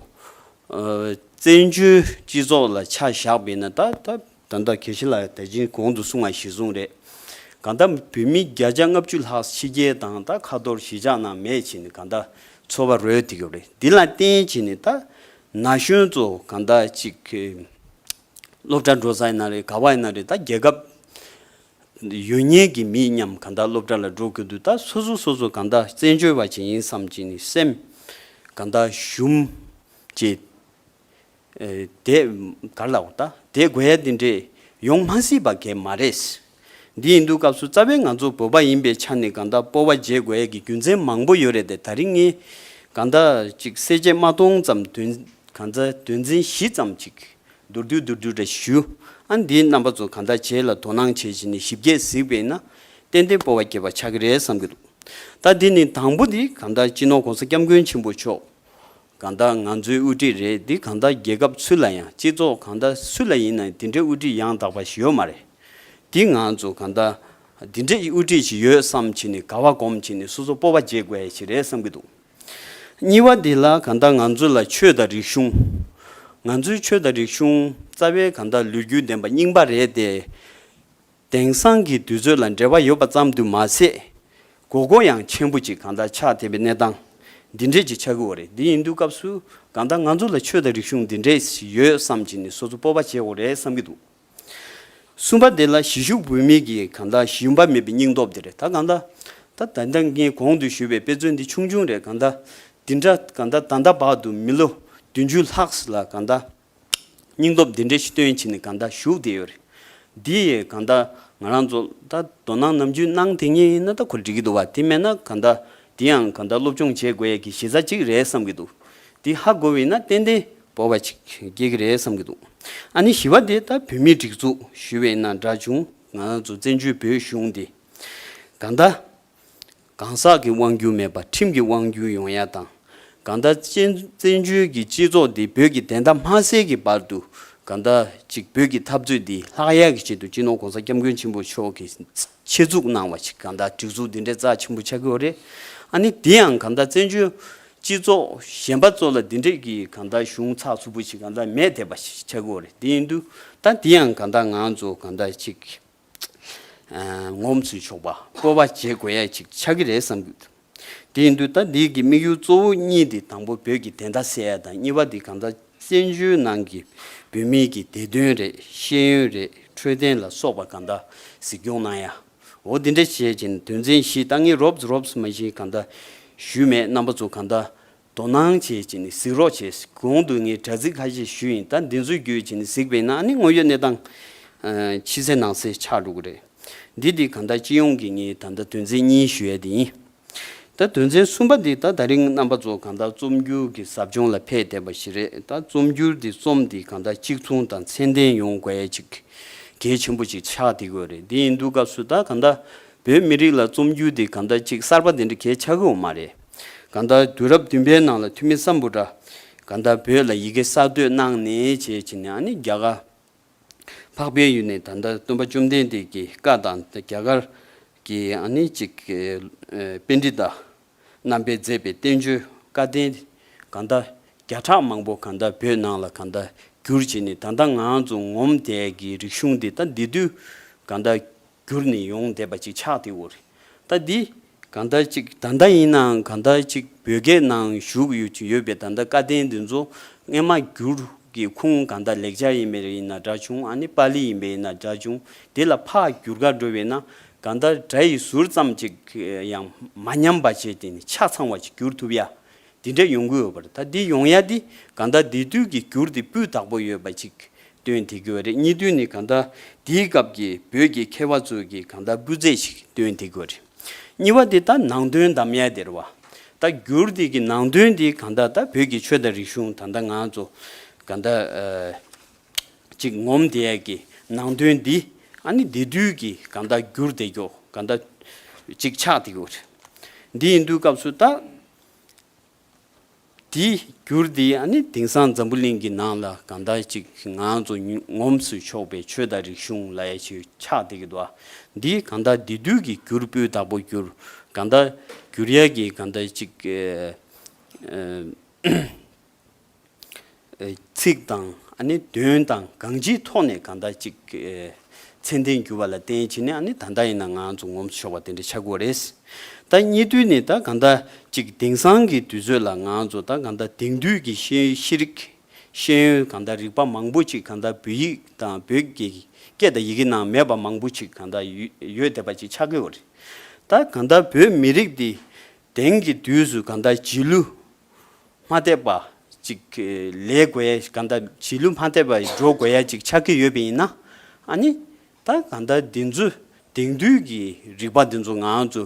བཙན་བྱོལ་སྤྱི་ཚོགས་ལ་ཆ་བཞག་པས་ན་ད་ད། ད་ལྟ་གལ་ཆེ་ལ་དད་ཅིང་གོང་དུ་སོང་བ་ཞིག་བཟུང་རེད། གང་ལྟར་བོད་མི་བརྒྱ་ཆ་ལྔ་བཅུ་ལྷག་ཕྱི་རྒྱལ་དང་ད་ཁ་ཐོར་གཞིས་ཆགས་ནང་མེད་ཕྱིན་གང་ལྟར་འཚོ་བ་རོལ་ཐིག་ཡོད་རེད་འདི་ལ་བརྟེན་ཕྱིན་ནས་ད་ན་གཞོན་ཚོ་གང་ལྟར་ཅིག་སློབ་གྲྭ་འགྲོ་ས་ཡིན་ན་རེད་ག་བ་ཡིན་ན་རེད་ད་རྒྱལ་ཁབ་ཡོད་ཉེས་ཀྱི་མི་སྙམ་གང་ལྟར་སློབ་གྲྭ་ལ་འགྲོ་གི་འདུག་ད་སོ་སོ་སོ་སོ་གང་ལྟར་བཙན་བྱོལ་བ་ཅིག་ཡིན་བསམ་ཅིག་ནས་སེམས་གང་ལྟར་ཞུམ་ཅེས་དེས་གར་ལ་འོ་ད་དེ་དགོས་ཡ་འདི་འདྲས་ཡོང་མ་སྲིད་པ་གས་མ་རེད། འདི་ཡིན་དུས་སྐབས་སུ་རྩ་བའི་ང་ཚོ་བོད་པ་ཡིན་པའི་ཆ་ནས་གང་དག་སྤོ་བ་བརྗེ་དགོས་ཡ་གི་རྒྱུ་མཚན་མང་པོ་ཡོད་རེད་དེ་ད་རིང་ངས་གང་དག་ཅིག་གསལ་བྱེད་མ་མཐོང་ཙམ་དོན་གང་ཚ་དོན་ཚན་བཞི་ཙམ་ཅིག་མདོར་བསྡུས་མདོར་བསྡུས་འདྲ་ཞུ་ཨ་འདིའི་རྣམ་པ་ཚོ་གང་དག་བྱེད་ལ་དོ་སྣང་བྱེད་བྱེད་ནས་ཞིབ་རྒྱས་གཟིགས་པས་ན་ཏན་ཏན་སྤོ་བ་བརྒྱད་པ་ཆགས་ཀྱི་རེད་བསམ་གྱི་འདུག་ད་འདི་ནི་དང་པོ་འདི་གང་དག་སྤྱི་ནོར་གོང་ས་སྐྱབས་མགོན་ཆེན་པོ་མཆོག་གང་དག་ང་ཚོའི་དབུ་ཁྲིད་རེད་འདི་གང་དག་རྒྱལ་ཁབ་སུ་ལ་ཡང་སྤྱི་ཚོགས་གང་དག་སུ་ལ་ཡིན་ནའི་འདི་འདྲའི་དབུ་ཁྲིད་ཡང་དག་པ་ཞིག་ཡོད་མ་རེད་འདི་ང་ཚོ་གང་དག་འདི་འདྲའི་དབུ་ཁྲིད་ཞིག་ཡོད་བསམ་ཕྱིན་ནས་ག་བ་གོམས་ཕྱིན་ནས་སོ་སོ་སྤོ་བ་བྱེད་དགོས་ཡ་ཞིག་རེད་བསམ་གྱི་འདུག་གཉིས་བ་འདི་ལ་གང་དག་ང་ཚོ་ལ་ཆོས་དང་རིག་གཞུང་ང་ཚོའི་ཆོས་དང་རིག་གཞུང་རྩ་བའི་གང་དག་ལུས་རྒྱུས་ལྡན་པ་རྙིང་པ་རེད་དེ། དེང་སང་གི་དུས་ཚོད་ལ་འབྲེལ་བ་ཡོད་པ་ཙམ་དུ་མ་ཟད། གོ་གོ་ཡང་མཆན་བུ་གཅིག་གང་དག་ཆགས་བསྡད་པའི་གནས་སྟངས་འདི་འདྲས་ཀྱི་ཆགས་ཀྱི་འོ་རེད་འདི་ཡིན་དུས་སྐབས་སུ་གང་དག་ང་ཚོ་ལ་ཆོས་དང་རིག་གཞུང་འདི་འདྲས་ཞིག་ཡོད་བསམ་གྱིན་ནས་སོ་སོ་སྤོབས་པ་བྱས་འོ་རེད་བསམ་གྱི་འདུག་གསུམ་པ་དེ་ལ་གཞིས་བཞུགས་བོད་མི་གིས་གང་དག་གཞི་ཡུམ་པ་མེད་པའི་སྙིང་སྟོབས་དེ་རེད་ད་གང་དག་ད་ད་ལྟ་ངའི་གོང་དུ་བཞུགས་པའི་དཔེ་མཚོན་འདི་ཆུང་ཆུང་རེད་གང་དག་འདི་འདྲ་གང་དག་ད་ལྟ་བར་དུ་མི་ལོ་བདུན་ཅུ་ལྷག་ལ་གང་དག། སྙིང་སྟོབས་འདི་འདྲའི་སྟོན་བྱེད་ནི་གང་དག་བཞུགས་དེ་ཡོད་རེད། འདི་ཡི་གང་དག་ང་རང་ཚོ་ད་དོ་སྣང་ནམ་རྒྱུས་སྣང་དེ་ཉིད་ནི་ད་ཁོ་འགྲིག་གི་འདུག་བ་དེ་མེད་ན་གང་དག་འདི་ཡང་གང་དག་སློབ་སྦྱོང་བྱེད་དགོས་ཡས་ཀྱི་གཞི་རྩ་གཅིག་རེད་བསམ་གི་འདུག་འདི་ཧ་གོ་བས་ན་ཏན་ཏན་བོར་བ་ཅིག་སྐྱེས་ཀྱི་རེད་བསམ་གི་འདུག་ཨ་ནི་ཞི་བ་དེ་ད་བོད་མིའི་སྒྲིག་འཛུགས་ཞུས་བས་ན་འདྲ་བྱུང་ང་རང་ཚོ་བཙན་བྱོལ་བོད་གཞུང་འདི་གང་དག་གང་ཟག་གི་དབང་བསྒྱུར་མེད་པར་ཁྲིམས་ཀྱི་དབང་བསྒྱུར་ཡོང་ཡ་དང། གང་ཟླ་གཅིག་བཙན་བྱོལ་གྱི་སྤྱི་ཚོགས་འདི་བོད་ཀྱི་བདེན་མཐའ་མ་གསལ་གྱི་བར་དུ་གང་ཟླ་གཅིག་བོད་ཀྱི་འཐབ་རྩོད་འདི་ལྷག་ཡལ་གྱི་ཆེད་དུ་སྤྱི་ནོར་གོང་ས་སྐྱབས་མགོན་ཆེན་པོ་མཆོག་གི་ཆེད་འཛུགས་གནང་བ་ཞིག་གང་ཟླ་སྒྲིག་འཛུགས་འདི་འདྲའི་རྩ་ཆེན་པོ་ཆགས་ཀྱི་འོ་རེད་ཨ་ནི་དེ་ཡང་གང་ཟླ་བཙན་བྱོལ་སྤྱི་ཚོགས་གཞན་པ་ཚོ་ལ་འདི་འདྲས་ཀྱི་གང་ཟླ་གཞུང་ཚགས་ཚུགས་པོ་ཞིག་གང་ཟླ་མེད་དེ་པ་ཞིག་ཆགས་ཀྱི་འོ་རེད་དེ་ཡིན་དུས་ད་དེ་ཡང་གང་ཟླ་ང་ཚོ་གང་ཟླ་གཅིག་ངོམ་ཚུལ་ཆོག་པ་བཀོལ་བ་བྱེད་དགོས་ཡས་ཅིག་ཆགས་ཀྱི་རེད་བསམ་གྱི་འདུག་དེ་ཡིན་དུས་ད་འདིའི་གི་དམིགས་ཡུལ་གཙོ་བོ་གཉིས་དེ་དང་པོ་བོད་ཀྱི་བདེན་མཐའ་གསལ་ཡས་དང་གཉིས་པ་དེ་གང་ཟག་བཙན་བྱོལ་ནང་གི་བོད་མིའི་གི་བདེ་དོན་རེད་ཤེས་ཡོན་རེད་འཕྲོད་བསྟེན་ལ་སོགས་པ་གང་ད་གཟིགས་སྐྱོང་གནང་ཡ་འོ་དེ་འདྲ་བྱེད་ཅིང་དོན་ཚན་བཞི་ཏང་གཉིས་རོབས་རོབས་མ་བཞིན་གང་ད་ཞུས་མེད་རྣམ་པ་ཚོ་གང་ད་དོ་སྣང་བྱེད་ཅེས་ནི་གཟིགས་རོགས་བྱས། གོང་དུ་ངས་དྲ་ཚིགས་ཁ་ཤས་ཞུས་ཡིན་ད་འདི་ཚོའི་བརྒྱུད་ཅེས་ནི་གཟིགས་པས་ན་ནི་དངོས་ཡོད་གནས་སྟངས། ཕྱི་གསལ་ནང་གསལ་ཆགས་འགྲོ་གི་རེད། འདི་དེ་ག་ད་སྤྱི་ཡོངས་ཀྱི་ངའི་ད་ལྟ་དོན་ཚན་གཉིས་ཞུ་ཡས་དེ་ཡིན། ད་དོན་ཚན་གསུམ་པ་འདི་ད་ད་རིང་རྣམ་པ་ཚོ་ག་ད་རྩོམ་སྒྱུར་གྱི་ཟབ་སྦྱོང་ལ་ཕེབས་བསྡད་པ་ཞིག་རེད་ད་རྩོམ་སྒྱུར་འདི་རྩོམ་འདི་ག་ད་གཅིག་མཚུངས་དང་ཚད་ལྡན་ཡོང་དགོས་ཡས་ཅིག་གལ་ཆེན་པོ་ཅིག་ཆགས་དེ་གོ་རེད་དེ་ཡིན་དུས་སྐབས་སུ་ད་ག་ད་བོད་མི་རིགས་ལ་རྩོམ་སྒྱུར་འདི་ག་ད་ཅིག་གསར་པ་དེ་འདྲ་གལ་ཆགས་གི་འོ་མ་རེད། གང་ལྟར་དུས་རབས་བདུན་པའི་ནང་ལ་འཐུས་མི་བསམ་བུ་དྲ་གང་ལྟར་བོད་ལ་ཡི་གེ་གསར་བཏོད་གནང་ནས་བྱས་ཀྱི་ནས་ཨཱ་ནི་རྒྱ་གར་འཕགས་པའི་ཡུལ་ནས་ད་ལྟར་སྟོན་པ་བཅོམ་ལྡན་འདས་ཀྱི་བཀའ་དང་རྒྱ་གར་གྱི་ཨཱ་ནི་ཅིག་དཔེ་འདྲི་དང་རྣམ་པས་མཛད་པའི་བསྟན་བཅོས་བཀའ་བསྟན་གང་ལྟར་བརྒྱ་ཕྲག་མང་པོ་གང་ལྟར་བོད་ནང་ལ་གང་ལྟར་བསྒྱུར་བྱས་ནས་ད་ལྟ་ང་ཚོ་ངོམ་དད་ཀྱི་རིག་གཞུང་འདི་ད་འདི་དུས་གང་ལྟར་གྱུར་ནས་ཡོང་བསྡད་པ་ཅིག་ཆགས་དེ་འུར་རྟ་འདི་ག་ཟླ་གཅིག་ད་ལྟ་ཡིན་ནའང་ག་ཟླ་གཅིག་བོད་སྐད་ནང་བཞུགས་ཡོད་པའི་ད་ལྟ་བཀའ་བསྟན་འདི་ཚོ་རྔན་མ་བསྒྱུར་གི་ཁུངས་ག་ཟླ་ལེགས་སྦྱར་ཡིན་པའི་རེ་ཡིན་ན་འདྲ་བྱུང་ཨ་ནི་པཱ་ལི་ཡིན་པའི་ཡིན་ན་འདྲ་བྱུང་དེ་ལ་ཕག་བསྒྱུར་ག་འགྲོ་བས་ན་ག་ཟླ་དགྲ་ཡི་ཟུར་ཙམ་ཅིག་ཡང་མ་ཉམས་པ་བྱས་ཏེ་ནི་ཆ་ཚང་བ་ཅིག་བསྒྱུར་ཐུབ་ཡ་འདི་འདྲ་ཡོང་གི་ཡོད་པ་རེད་ད་འདི་ཡོང་ཡ་འདི་གང་ལྟར་འདི་དུས་ཀྱི་འགྱུར་འདི་སྤུས་དག་པོ་ཡོད་པ་ཅིག་སྟོན་ཐེ་གི་བ་རེད་གཉིས་དུས་ནི་གང་ལྟར་འདིའི་སྐབས་ཀྱི་བོད་ཀྱི་མཁས་བ་ཚོས་ཀྱི་གང་ལྟར་སྤུས་ཚད་ཞིག་སྟོན་ཐེ་གི་བ་རེད་གཉིས་བ་འདི་ད་ནང་དོན་དམ་ཡ་དེར་བ་ད་འགྱུར་འདི་ཀྱི་ནང་དོན་འདི་གང་ལྟར་ད་བོད་ཀྱི་ཆོས་དང་རིག་གཞུང་ད་ད་ང་ཚོ་གང་ལྟར་ཅིག་ངོམ་ཐེ་ཡ་ཀྱི་ནང་དོན་འདི་ཨ་ནི་འདི་དུས་ཀྱི་གང་ལྟར་འགྱུར་འདེ་མགྱོགས་གང་ལྟར་ཅིག་ཆགས་ཐེ་གི་བ་རེད་འདི་ཡིན་དུས་སྐབས་སུ་ད། དེ་བསྒྱུར་དེ་ཡང་ནི་དེང་སང་འཛམ་བུ་གླིང་གི་ནང་ལ་གང་དག་ཅིག་ངང་དུ་ངོམས་སུ་ཆོག་པའི་ཆོས་དང་རིག་གཞུང་ལ་ཡ་ཆོས་ཆགས་འདི་གི་དུ་བ་འདི་གང་དག་འདི་དུས་ཀྱི་བསྒྱུར་སྤོའི་བདག་པོ་བསྒྱུར་གང་དག་བསྒྱུར་ཡ་གྱི་གང་དག་ཅིག། ཚིག་དང་དོན་དང་གང་ཅིའི་ཐོག་ནས་གང་འདྲ་ཅིག་མཚན་ལྡན་འགྱུར་བ་ལ་བརྟེན་ཕྱིན་ནས་ད་ལྟ་ཡིན་ན་ང་ཚོ་ངོམ་དུ་ཆོག་པ་དེ་འདྲའི་ཆག་སྒོ་རེད། ད་གཉིས་དུས་ནས་ད་གང་འདྲ་ཅིག་དེང་སང་གི་དུས་ཚོད་ལ་ང་ཚོ་ད་གང་འདྲ་དེང་དུས་ཀྱི་ཤེས་རིག་ཤེས་ཡོན་གང་འདྲ་རིག་པ་མང་པོ་ཅིག་གང་འདྲ་བོད་ཡིག་དང་བོད་ཀྱི་སྐད་དང་ཡི་གེ་ནང་མེད་པ་མང་པོ་ཅིག་གང་འདྲ་ཡོད་བསྡད་པ་ཅིག་ཆག་སྒོ་རེད། ད་གང་འདྲ་བོད་མི་རིགས་འདི་དེང་གི་དུས་སུ་གང་འདྲ་བྱིས་གླུ་མ་དད་པ་ཅིག་ལས་དགོས་ཡ་ག་འདའ་བྱིས་གླུ་མ་དད་པ་འགྲོ་དགོས་ཡ་ཅིག་ཆགས་ཀྱི་ཡོད་པ་ཡིན་ན་ཨ་ནི་ད་ག་འདའ་འདི་ཚོ་དེང་དུས་ཀྱི་རིག་པ་འདི་ཚོ་ང་ཚོ་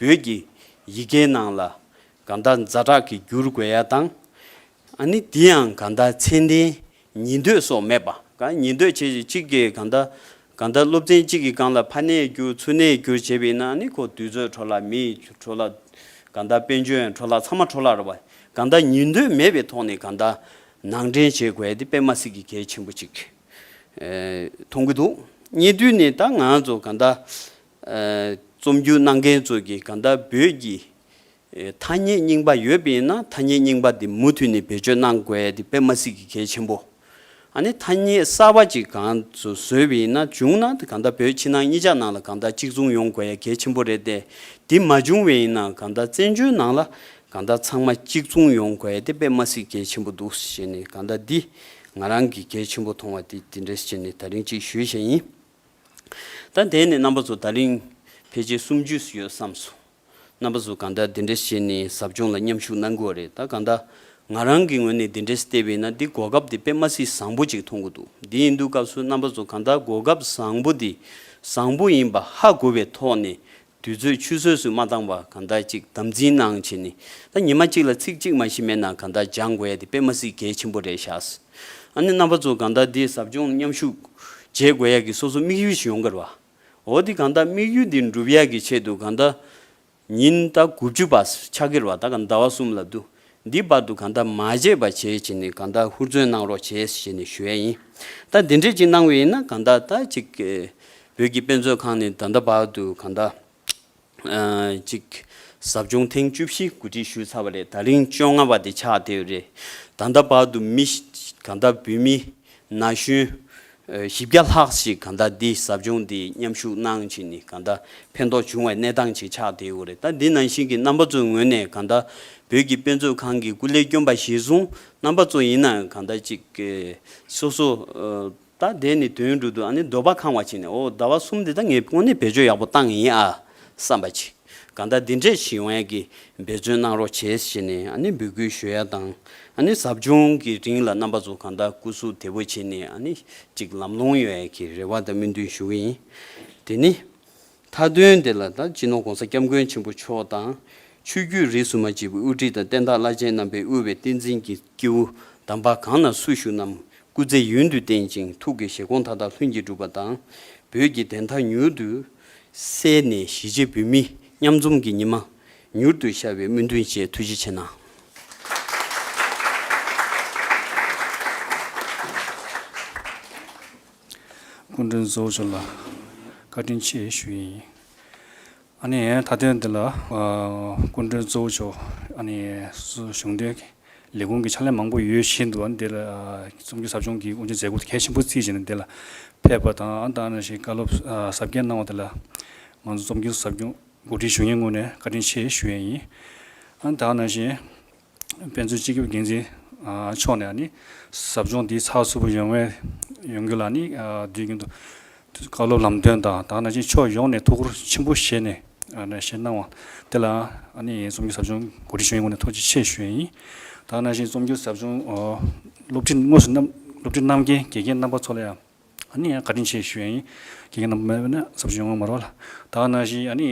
བོད་ཀྱི་ཡི་གེའི་ནང་ལ་ག་འདའ་འཛའ་དྲག་གི་བསྒྱུར་དགོས་ཡ་དང་ཨ་ནི་འདི་ཡང་ག་འདའ་མཚན་ལྡན་ཉི་འདོད་སོགས་སྨྲས་པ། གང་ཉི་འདོད་བྱེད་ཅིག་གཅིག་གིས་གང་དག། གང་དག་སློབ་ཚན་གཅིག་གིས་གང་ལ་ཕ་ནད་བསྐྱུར་ཚུལ་ནད་བསྐྱུར་བྱེད་པས་ན་ནི་ཁོ་དུས་ཚོད་འཕྲོ་ལ་མིས་འཕྲོ་ལ། གང་དག་དཔལ་འབྱོན་འཕྲོ་ལ་ཚང་མ་འཕྲོ་ལར་བ། གང་དག་ཉི་འདོད་མེད་པའི་ཐོག་ནས་གང་དག། ནང་འདྲེན་བྱེད་དགོས་ཏེ་པད་མ་སི་ཀི་གལ་ཆེན་པོ་ཅིག། མཐོང་གི་འདུག་རྙེད་དུས་ནི་ད་ང་ཚོ་གང་དག། རྩོམ་རྒྱུགས་གནང་མཁན་ཚོ་གིས་གང་དག་བོད་ཀྱི། ཐ་སྙད་རྙིང་པ་ཡོད་པས་ན་ཐ་སྙད་རྙིང་པ་དེ་མུ་མཐུད་ནས་བེད་སྤྱོད་གནང་དགོས་དེ་པད་མ་སྲིད་ཀྱི་གལ་ཆེན་པོ། ཨ་ནི་ཐ་སྙད་གསར་བ་ཅིག་གང་དུ་བཟོས་པས་ན་བྱུང་ན་དེ་གང་ལྟར་བོད་ཕྱི་ནང་གཉིས་ཆ་ནང་ལ་གང་ལྟར་གཅིག་མཚུངས་ཡོང་དགོས་ཡ་གལ་ཆེན་པོ་རེད་དེ་དེ་མ་བྱུང་བས་ན་གང་ལྟར་བཙན་བྱོལ་ནང་ལ་གང་ལྟར་ཚང་མ་གཅིག་མཚུངས་ཡོང་དགོས་ཡ་དེ་པད་མ་སྲིད་གལ་ཆེན་པོ་འདུག་ཞེས་ནས་གང་ལྟར་འདི་ང་རང་གིས་གལ་ཆེན་པོ་མཐོང་བ་དེ་དེ་འདྲས་ཞེས་ནས་ད་རིང་གཅིག་ཞུས་བཞེས་ཡིན། ད་དེ་ནས་རྣམ་པ་ཚོ་ད་རིང་ཕལ་ཆེར་སུམ་ཅུས་ཡོད་བསམ་སོང། རྣམ་པ་ཟུ་གང་དག་འདི་འདྲས་བྱས་ནས་ཟབ་སྦྱོང་ལ་མཉམ་ཞུགས་གནང་དགོས་བ་རེད་ད་གང་དག་ང་རང་གི་ངོས་ནས་འདི་འདྲས་བལྟས་པ་ཡིན་ན་འདི་གོ་སྐབས་དེ་དཔེ་མ་སྲིད་བཟང་པོ་ཅིག་མཐོང་གི་འདུག་འདི་ཡིན་དུས་སྐབས་སུ་རྣམ་པ་ཟུ་གང་དག་གོ་སྐབས་བཟང་པོ་འདི་བཟང་པོ་ཡིན་པ་ཧ་གོ་བའི་ཐོག་ནས་དུས་ཚོད་ཆུད་ཟོས་སུ་མ་བཏང་བར་གང་དག་ཅིག་དམ་འཛིན་གནང་བྱས་ནས་ད་ཉི་མ་གཅིག་ལ་ཚིག་གཅིག་མ་གཞི་མེད་ན་གང་དག་སྦྱང་དགོས་ཡ་དེ་དཔེ་མ་སྲིད་གལ་ཆེན་པོ་རེད་ཤག་ཨ་ནི་རྣམ་པ་ཟུ་གང་དག་འདི་ཟབ་སྦྱོང་མཉམ་ཞུགས་བྱེད་དགོས་ཡ་གི་སོ་སོ་དམིགས་ཡུལ་ཞིག་ཡོང་གི་རེད་བ། འོ་དེ་གང་ལྟ་དམིགས་ཡུལ་འདི་འགྲུབ་ཡས་ཀྱི་ཆེད་དུ་གང་ལྟ། ཉིན་ལྟ་དགུ་བཅུ་པ་ཕྱག་གིར་བ་དང་ཟླ་བ་གསུམ་ལ་བསྡུ། འདི་བར་དུ་གང་ལྟ་མ་བརྗེད་པ་བྱེད་བྱེད་ནས་གང་ལྟ་ཧུར་བརྩོན་གནང་རོགས་བྱས་ཞེས་ནས་ཞུ་ཡས་ཡིན། ད་འདི་འདྲས་ཅིག་གནང་བས་ཡིན་ན་གང་ལྟ་ད་ཅིག། བོད་ཀྱི་དཔེ་མཛོད་ཁང་ནས་ད་ལྟ་བར་དུ་གང་ལྟ། གཅིག། ཟབ་སྦྱོང་ཐེངས་བཅུ་བཞི་གོ་སྒྲིག་ཞུས་ཚར་བ་ལས་ད་རིང་བཅོ་ལྔ་བ་དེ་ཆགས་བསྡད་ཡོད་རེད། ད་ལྟ་བར་དུ་མི་གང་དག་བོད་མི་ན་གཞོན་བཞི་བརྒྱ་ལྷག་ཞིག་གང་དག་འདི་ཟབ་སྦྱོང་འདི་མཉམ་ཞུགས་གནང་ཕྱིན་ནི་གང་དག་ཕན་ཐོགས་བྱུང་བའི་གནས་སྟངས་ཅིག་ཆགས་བསྡད་ཡོད་རེད་ད་འདི་ནང་བཞིན་གྱི་རྣམ་པ་ཚོའི་ངོས་ནས་གང་དག་བོད་ཀྱི་དཔེ་མཛོད་ཁང་གི་སྐུ་ལས་སྐྱོན་པ་གཞིར་བཟུང་རྣམ་པ་ཚོ་ཡིན་ནའང་གང་དག་ཅིག་སོ་སོ་ད་ལྡན་ནི་དོན་འགྲུབ་ཏུ་ཨ་ནི་འདོད་པ་ཁང་བ་ཅིག་ནས་ཨོ་ཟླ་བ་གསུམ་འདི་དག་ངས་དངོས་གནས་བེད་སྤྱོད་ཡག་པོ་བཏང་ཡིན་ཨ་བསམ་པ་ཅིག་གང་ལྟར་འདི་འདྲའི་གཞི་བས་ཀྱི་འབད་བརྩོན་གནང་རོགས་བྱེད་ཞེས་ནས་ཨ་ནི་འབོད་སྐུལ་ཞུ་ཡ་དང་ཨ་ནི་ཟབ་སྦྱོང་གི་རིང་ལ་རྣམ་པ་ཚོ་གང་ལྟར་སྐུ་གཟུགས་དལ་བོ་བྱས་ནས་ཨ་ནི་ཅིག་ལམ་ལྷོང་ཡོད་ཨེ་ཀྱི་རེ་བ་དང་སྨོན་འདུན་ཞུ་གི་ཡིན་དེ་ནི། མཐའ་དོན་དེ་ལ་ད་སྤྱི་ནོར ྋགོང་ས ྋསྐྱབས་མགོན་ཆེན་པོ་མཆོག་དང། ཆོས་བརྒྱུད་རིས་སུ་མ་གཅིག་པའི་དབུ་ཁྲིད་དང་བསྟན་བདག་བླ་ཆེན་རྣམ་པས་དབུལ་བའི་བསྟན་འཛིན་གྱི་སྐྱེས་བུ་དམ་པ་གང་ན་སུ་བཞུགས་རྣམས་སྐུ་ཚེ་ཡུན་དུ་བརྟན་ཅིང་ཐུགས་ཀྱི་བཞེད་དགོངས་མཐའ་དག་ལྷུན་གྱིས་འགྲུབ་པ་དང། བོད་ཀྱི་བདེན་མཐའ་མྱུར་དུ་གསལ་ནས་གཞིས་བྱེས་བོད་མི་མཉམ་འཛོམས་ཀྱི་ཉི་མ་མྱུར་དུ་ཤར་བའི་སྨོན་འདུན་བཅས་ཐུགས་རྗེ་ཆེ་གནང། སྐུ་མགྲོན་གཙོ་བོ་མཆོག་ལ་བཀའ་དྲིན་ཆེ་ཞུ་ཡི་ཡིན། ཨ་ནི་ད་དོན་འདི་ལ་སྐུ་མགྲོན་གཙོ་བོ་མཆོག་ཨ་ནི་གཞུང་འབྲེལ་ལས་ཁུངས་ཀྱི་ཕྱག་ལས་མང་པོ་ཡོད་བཞིན་དུ་ཨ་ནི་འདི་ལ་རྩོམ་སྒྱུར་ཟབ་སྦྱོང་གི་དབུ་འབྱེད་མཛད་སྒོ་དེ་གལ་ཆེན་པོ་རྩིས་བྱས་ནས་འདི་ལ་ཕེབས་པ་དང་ཨ་ནི་ཞིག་བཀའ་སློབ་ཟབ་རྒྱས་གནང་བ་དེ་ལ་ང་ཚོ་རྩོམ་སྒྱུར་ཟབ་སྦྱོང་འགོ་ཁྲིད་གཞུང་ཡོངས་ངོས་ནས་བཀའ་དྲིན་ཆེ་ཞུ་ཡི་ཡིན། ཨ་ནི་ད་ནང་བཞིན། དཔེ་མཛོད་སྤྱི་ཁྱབ་འགན་འཛིན་མཆོག་ནས་ནི་ཟབ་སྦྱོང་འདིའི་ཚགས་ཚུད་པོ་ཡོང་བའི་ཡོང་རྒྱུ་ལ་ནི་དུས་རྒྱུན་དུ་བཀའ་སློབ་ལམ་སྟོན་དང་དག་ན་ཅིག་ཕྱོགས་ཡོངས་ནས་ཐུགས་ཁུར་ཆེན་པོ་བཞེས་ནས་བཞེས་གནང་བ་དེ་ལ་ནི་རྩོམ་སྒྱུར་ཟབ་སྦྱོང་གོ་སྒྲིག་ཞུ་ཡོན་ངོ་ནས་ཐུགས་རྗེ་ཆེ་ཞུ་ཡི་ཡིན། དག་ན་བཞིན་རྩོམ་སྒྱུར་ཟབ་སྦྱོང་སློབ་ཁྲིད་དངོས་སུ་གནང་སློབ་ཁྲིད་གནང་མཁན་དགེ་རྒན་རྣམ་པ་ཚོ་ལ་ཡང་ནི་བཀའ་དྲིན་ཆེ་ཞུ་ཡི་ཡིན། དགེ་རྒན་རྣམ་པ་མེད་པས་ན་ཟབ་སྦྱོང་ཡོང་མི་རུང་ལ། དག་ན་བཞིན་ནི་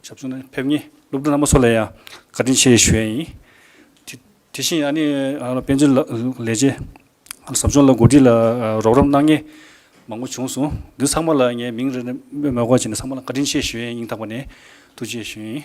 ཞབས་ཞུ་ནི་ཕེབས་ཉེས་སློབ་ཕྲུག་རྣམ་པ་སོགས་ལ་ཡང་བཀའ་དྲིན་ཆེ་ཞུ་བ་ཡིན། དེ་བཞིན་ཨ་ནེ་དཔལ་འབྱོར་ལས་བྱེད་ཟབ་སྦྱོང་ལ་གོ་སྒྲིག་ལ་རོགས་རམ་གནང་མཁན་མང་པོ་བྱུང་སོང། འདི་ཚང་མ་ལ་ངས་མིང་རེ་རེ་སྨྲོས་མ་དགོས་བྱས་ནས་ཚང་མ་ལ་བཀའ་དྲིན་ཆེ་ཞུ་ཡན་སྙིང་ཐག་པ་ནས་ཐུགས་རྗེ་ཞུ་ཡིན།